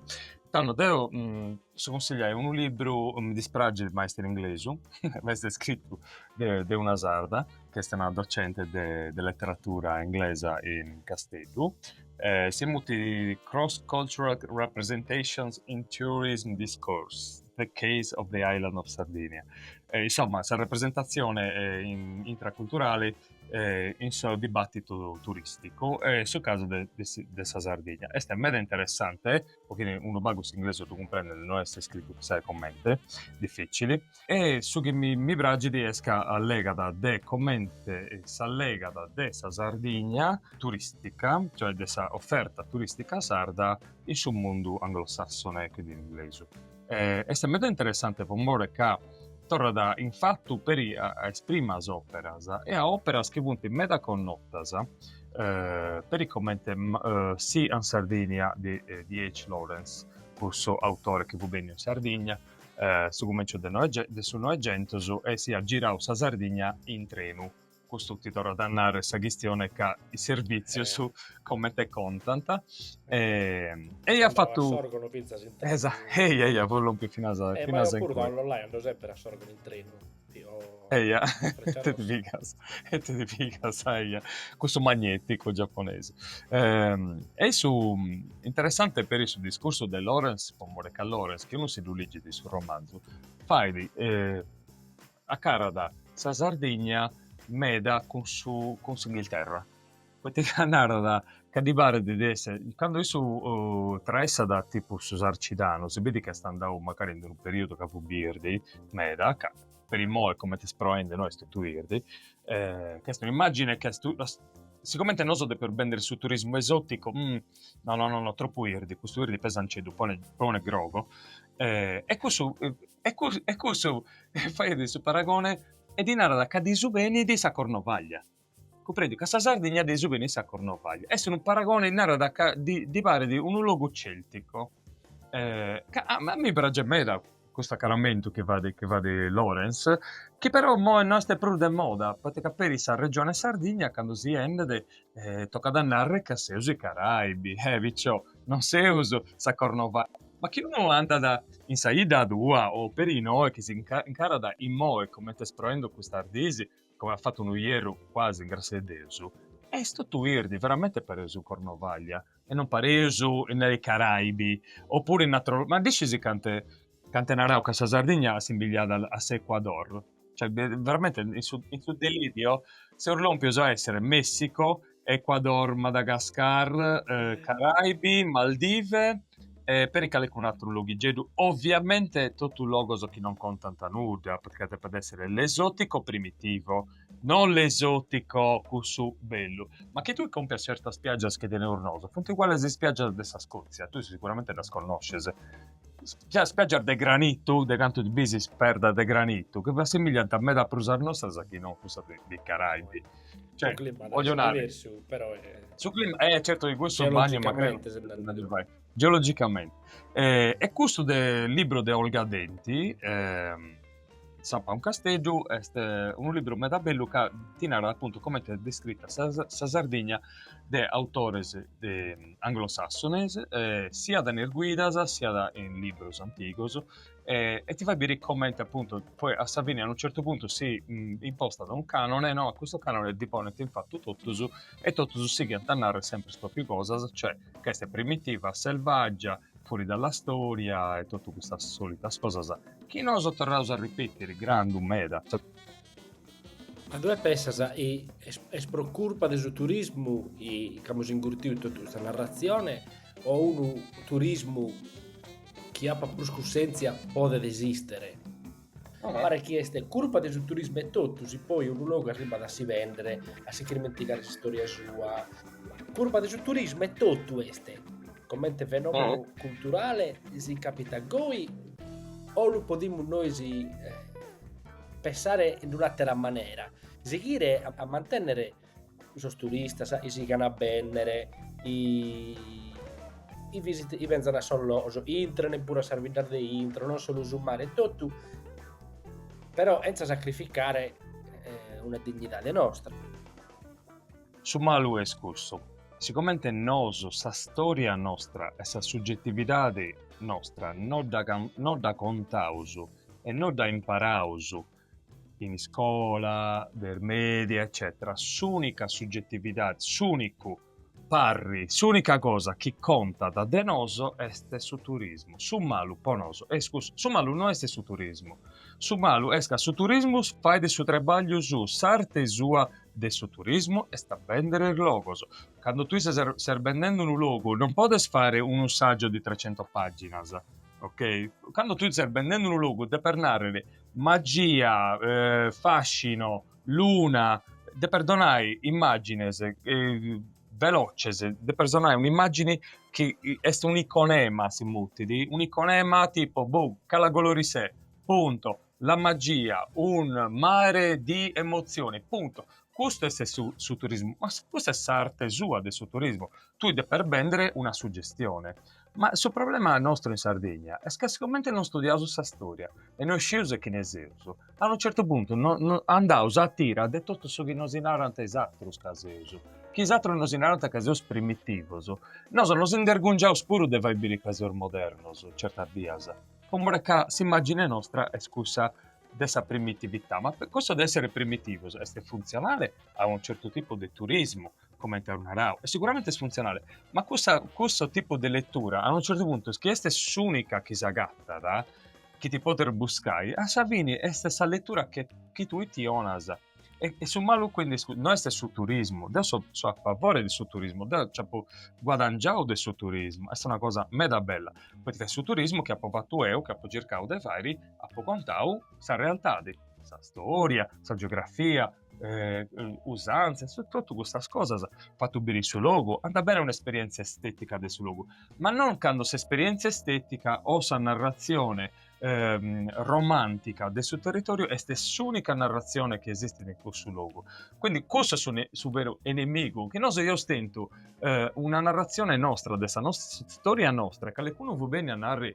Tando deu, mm, si consìgliu unu libru, mi dispragit ma est in inglesu, ma est scritu de, de una sarda, chi est una docente de, de letteratura inglesa in Casteddu, eh, si mutit Cross Cultural Representations in Tourism Discourse. The Case of the Island of Sardinia. E, insomma, sa representatzione in, intraculturale eh, in su dibattitu turisticu e su casu de, de, de sa Sardigna. Est meda interessante, po chini unu pagu s'inglesu ddu cumprendet, no est scritu chissai comente, difìtzili. E su chi mi, mi pragit est ca allegat de comente s'allegat de sa Sardigna turistica, cioè de sa offerta turistica sarda, in su mundu anglosassone e cuindi inglesu. E, est meda interessante po more ca torrat in fatu peri a, a is primas operas e a operas chi funt meda connotas, eh, peri comente eh, Sea and Sardinia de DH. Lawrence, cussu autore chi fut benniu in Sardigna eh, su cumenciu de su Noegentus e si at girau sa Sardigna in trenu. Custu ti torrat a narrer sa chistione ca is servìtzios comente contant. Ei at fatu. Andau a Sòrgunu fintzas in trenu. Esatu, ei, eia, pro lompi finas in cue. Ma deu puru a Lollai andau semper a Sòrgunu in trenu. Eia, ite ti pigas, ite ti pigas, eia, cussu magneticu giapponesi. E est su, interessante peri su discursu de Lawrence, po more ca Lawrence, chi unu si ddu ligit su romanzu, fait Acarat sa Sardigna meda cun su cun s'Inghilterra poita ca narat ca ddi paret de esser, cando issu traessat tipu su sarcidanu si bidit ca est andau mancari in d'unu periudu ca fut birdi meda, ca peri immoi comente est proendi no est totu birdi ca est un'immagine ca est sigomente nosu depeus bender su turismu esoticu no no no tropu birdi, custu birdi pesanceddu pone pone grogu e cussu E cussu e cussu faghet su paragone e ddi narat ca ddi subenit sa Cornovaglia. Cumprendiu ca sa Sardigna ddi subenit sa Cornovaglia. Est unu paragone, narat ca ddi ddi paret unu logu celtico. Ca a mi praxit meda custu acaramentu chi fait chi fait Lawrence, chi però immoe no est prus de moda, poita ca peri sa regione Sardigna candu si 'endet tocat a narrer ca seus is Caraibi, e picciò non seus sa Cornovaglia, ma chi unu andat in sa 'idda tua o peri innoe chi si incarat immoe comente est proende custas diis, come at fatu unu ierru cuasi in grassia 'e Deus, est totu birdi, veramente pareus in Cornovaglia e non pareus in is Caraibi, oppuru in atrus, ma ddu scis cant'e. ca ant narau ca sa Sardigna assimbillat a s'Ecuador, cioè veramente in su in su delirio seus lompios a essere Messico, Ecuador, Madagascar, Caraibi, Maldive e peri calicunu atteru loghiggeddu, ovviamente totu logos chi non contant nudda, perché depet essere l'esotico primitivo, non l'esotico cussu bellu, ma chi tui compias certas spiaggias chi teneus nosu funt uguales a is spiaggias de sa Scozia, tui seguramente ddas connosces spiaggias de granitu de cantu is bisis perdas de granitu chi s'assimiliant meda a prus a sas nostras chi non a cussas de is Caraibi. Cioè, voglio nare, diversu, però è... unu clima, eh, certo che questo è bagno, magari geologicamente. Eh, e custu libru de Olga Denti, eh, Zampa un casteddu est unu libru meda bellu ca ti narat appuntu comente est descritta sa, sa Sardigna de autores de anglosassones, siat in is guidas, siat in librus antigos e e ti fait biri comente appuntu poi a sa fini a unu certu puntu si impostat unu canone no, a custu canone ddi ponent in fatu totus e totus sighiant a narrere sempre is proprias cosas, cioè ca est primitiva, selvaggia Fuori dalla storia e totu custas solitas cosas chi noso torraus a ripetiri grandu meda. Ma tue pensas est pro curpa de su turismu chi amus ingurtiu totu custa narratzione o unu turismu chi apat prus cussèntzia podet esistere? Paret chi est curpa de su turismu etotu si poi unu logu arribat a si bèndere, a si chirmentigare s'istòria sua. Curpa de su turismu etotu est, comente fenòmenu culturale si càpitat goi o lu podimus nois pensare in un'àtera manera, sighire a mantènnere sos turistas chi sighan a bènnere, chi benzan a sos logos, intran puru a sas biddas de intro, non solu su mare, totu però chentza sacrificare una dignidade nostra. Su malu est cussu, si comente nosu sa storia nostra e sa sugetividade nostra non dda non dda contaus e non dda imparaus in iscola, de is media, eccetera, s'unica suggettividade, s'unicu parri, s'unica cosa chi contat de noso est su turismu. Su malu po noso, iscusa, su malu no est su turismu, su malu est ca su turismu fait su trabagliu suu, s'arte sua de su turismu est a bèndere is logos. Cando tui ses, ses bendende unu logu non podes fare unu saggio di trecento paginas, ok? Cando tui ses bendende unu logu deper nàrrere Magia, fascino, luna, deper donai immagines veloces, deper donai un'immagini chi est un'iconema si mutit, un'iconema tipu boh Cala Goloritzé, punto, la magia, un mare di emozioni, punto. Custu est su turismu, ma custa est s'arte sua de su turismu, tui deper bèndere una suggestione. Ma su problema nostru in Sardigna est ca sicomente non studiaus sa storia e no iscieus a chine seus, a unu certu puntu andaus a tira de totu su chi nosi narant is atrus ca seus, chi is atrus nosi narant ca seus primitivus, nosu nos indergungiaus puru de fai biri ca seus modernus, certas bias, po more ca s'imagine nostra est cussa de sa primitività, ma cussu de essere primitivus est funzionale a unu certu tipu de turismu, comente as narau, e siguramente est funtzionale, ma cussa, cussu tipu de letura a unu certu puntu chi est s'unica chi s'agatat, chi ti podes buscai, a sa fini est sa letura che chi tui ti 'onas e su malu quindi no est su turismu, deu seu a favore de su turismu, deu nci apu guadangiau de su turismu, est una cosa meda bella, poita ca su turismu chi apu fatu eu, chi apu circau de fai, apu contau sa realtadi, sa storia, sa geografia, eh, usanzas, totu custas cosas, fatu biri su logu, andat bene un'esperièntzia estetica de su logu, ma non cando s'esperièntzia estetica o sa narratzione ehm, romàntica de su territòriu est s'ùnica narratzione chi esistit in cussu logu. Quindi cussu est su veru enemigu, chi nosu eus tentu eh, una narratzione nostra, de sa nostra storia nostra, e calicunu fut bénniu a narri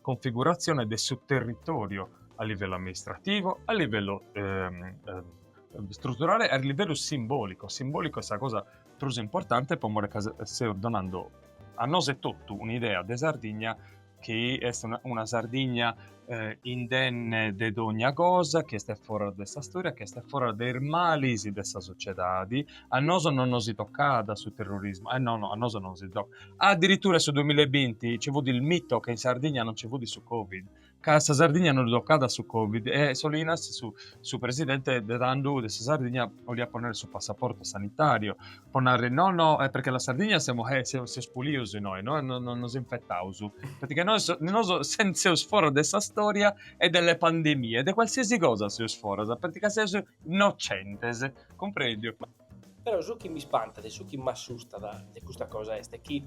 Configuratzione de su territòriu a livellu amministrativu, a livellu struturale e a livellu simbòlicu, simbòlicu est sa cosa prus importante po more ca seus donandu a nosu etotu un'idea de Sardigna chi est una una Sardigna indenne de dogna cosa, chi est foras de sa storia, chi est foras de is malis de sa sociedadi, a nosu non nos tocat su terrorismu, e no, a nosu non nos tocat Addirittura in su duimilla e binti nci fut il mito ca in Sardigna non nci fut su Covid, ca sa Sardigna non ddu tocat su Covid e Solinas, su su presidente de tandhu de sa Sardigna, 'oliat ponnere su passaporto sanitario po narri no no est perchè la Sardigna semos, seus pulius innoi, no no no nos infettaus, perchè nois nosu seus foras de sa storia e de le pandemie, de qualsiasi cosa seus foras, perchè seus innocentes, cumprendiu. Però su chi mi spantat e su chi m'assustat de custa cosa est chi,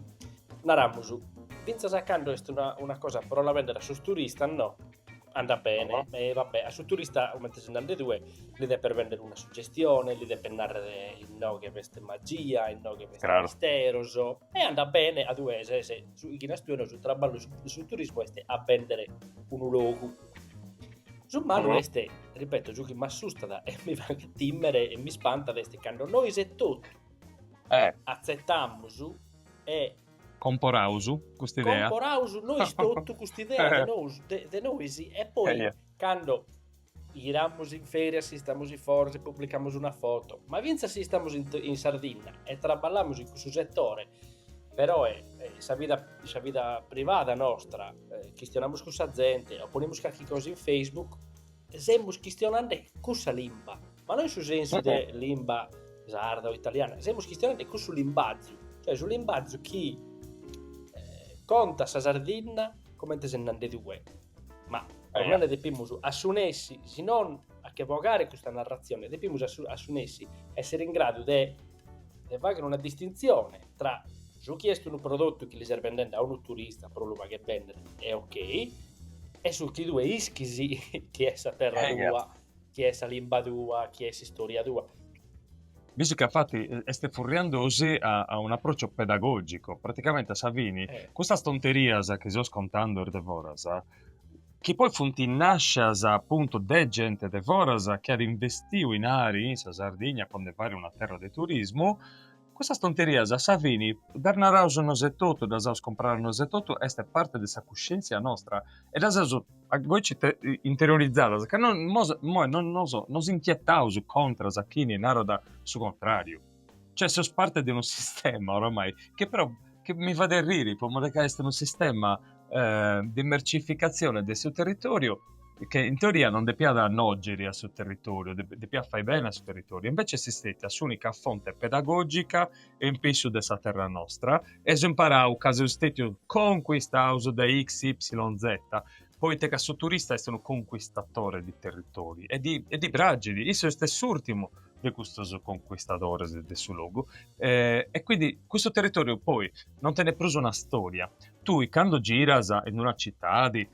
naramus, fintzas a cando est una, una cosa pro la bender a sos turistas, no? andat bene, e va bene, a su turista comente ses nande tue li deppes bender una suggestione, li deppes narrere inoghe b'est magia, inoghe b'est claro. misteros, e andat bene, a tue ses, chi nas tue no, su traballu de su turismo est a bèndere unu logu. Su malu est, ripeto, su chi m'assustat e mi faghet tìmere e mi spantat est cando nois e totu eh. atzetamus e comporaus custa idea. Comporaus nois totu custa idea de nois, de, de nois e poi cando giramus in forsis si istamus in foras, si publicamus una foto, ma fintzas si istamus in, in Sardinna e traballamus in cussu setore, però è, è sa, vida, sa vida privada nostra, eh, chistionamus cun sa zente o ponimus calchi cosa in Facebook, semus chistionande cussa limba, ma non in su sensu de limba sarda o italiana, semus chistionande cussu limbazu, cioè su limbazu chi eh, conta sa Sardinna comente ses nande tue, ma eh, ormai ne depimus assunessi, si non a che vogare custa narrazione, depimus assunessi essere in gradu de e fagher una distintzione tra su chi est unu prodotu chi li ses bendende a unu turista pro lu fagher bènnere e ok, e su chi tue ischis chi est sa terra eh, tua, chi est sa limba tua, chi est s'istòria tua. Visto che infatti est furriandosi a, a un approccio pedagogico, praticamente a sa fini, eh. custas tonterias chi seus contando a is de foras, chi poi funt nàscias apuntu de gente de foras chi at investiu dinari in sa Sardigna po nde fai una terra de turismu, custas tonterias a sa fini, ddas naraus nosu etotu, ddas aus compradas nosu etotu, est parte de sa cuscièntzia nostra e ddas eus goici interiorizadas ca no, imoi non nos inchietaus contras a chini narat su contràriu. Cioè seus parte de unu sistema oramai che però che mi fadet riri po more ca est unu sistema eh, de mercificatzione de su territoriu che in teoria non depiat nògiri a su territoriu, depiat fai bene a su territoriu e invece est istètia s'unica fonte pedagogica e in pissu de sa terra nostra e aus imparau ca seus stetius conquistaus dae x, y, z poite ca su turista est unu conquistatore de territori e ddi pragit, issu est s'urtimu de custos conquistadores de su logu e quindi custu territoriu poi non tenet prus una storia, tui cando giras in una citadi,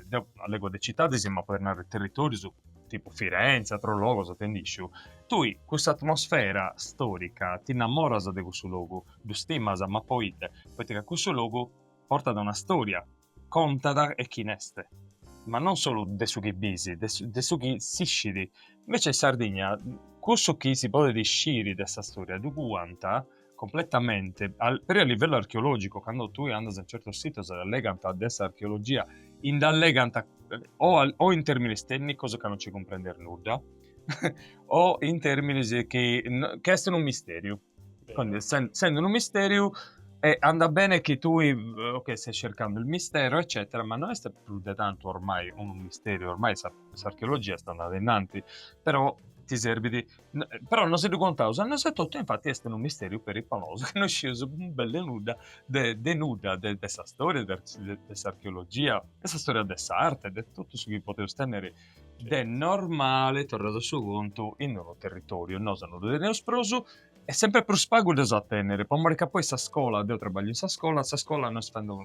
deu allego de citadis ma podis narrer de territorius tipu Firenze ateros logos ite nd'isciu, tui cussa atmosfera storica ti innamoras de cussu logu, ddu stimas ma poite, poite ca cussu logu portat una storia Contada e chi n'est, ma non solu de su chi bis, de su chi s'iscit. Invece in Sardigna cussu chi si podet isciri de sa storia ddu cuant completamente, peri a livellu archeologicu, cando tui andas in certos sitos e allegant de s'archeologia e nd'allegant o in terminis tènnicos ca non nci cumprendes nudda o in terminis chi est unu misteriu. Quindi essendo unu misteriu e andat bene chi tui ok stai cercando il mistero eccetera ma non est più de tanto ormai unu misteriu ormai sa, s'archeologia est andada innanti però ti serbit però non si ddu contaus a nosu etotu e infati est unu misteriu peri po nosu chi non iscius belle nudda de de nudda de de sa storia de de s'archeologia de sa storia de s'arte de totu su chi podeus tenner De normale, torraus a su contu, in unu territòriu nosu non ddu teneus prus e semper prus pagu dd'eus a tènnere, po mori ca poi sa scola, deu trabagliu in sa scola, sa scola no est faendu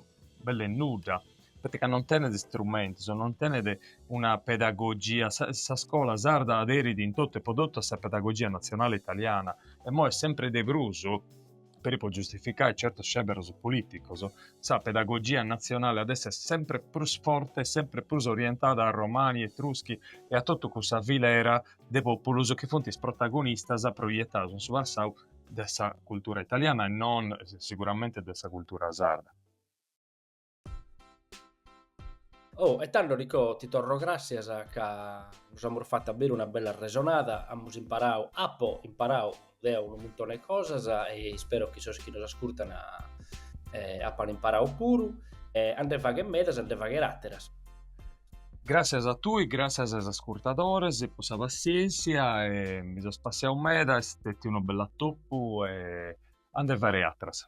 belle nudda, poita ca non tenet istrumentus, non tenet una pedagogia, sa sa scola sarda aderit in totu e po totu a sa pedagogia natzionale italiana, e imoi est sempri de prus. Peri po giustificai certos sceberos polìticos, sa pedagogia natzionale at èssere semper prus forte e semper prus orientada a Romani, Etruschi e a totu cussa filera de pòpulos chi funt is protagonistas proietaus in su passau de sa cultura italiana e non siguramente de sa cultura sarda. Oh, e tando Nicò, ti torro gràssias ca nos amus fatu a beru una bella arresonada, amus imparadu, apo imparadu deo unu muntone 'e cosas e ispero chi sos chi nos ascurtan eh, apan imparadu puru e a nde fagher medas, a nde fagher àteras. Gràssias a tui, gràssias a is ascurtadores po sa passièntzia e mi so spassiau meda, est stètiu unu bell'atopu e a nde fagher àteras.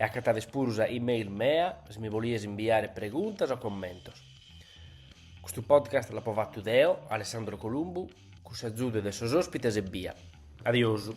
E acatades puru sa email mea si mi bolies imbiare preguntas o commentos. Custu podcast l'apo fattu deo, Alessandro Columbu, cun s'agiudu de sos ospites ebbia. Adiosu.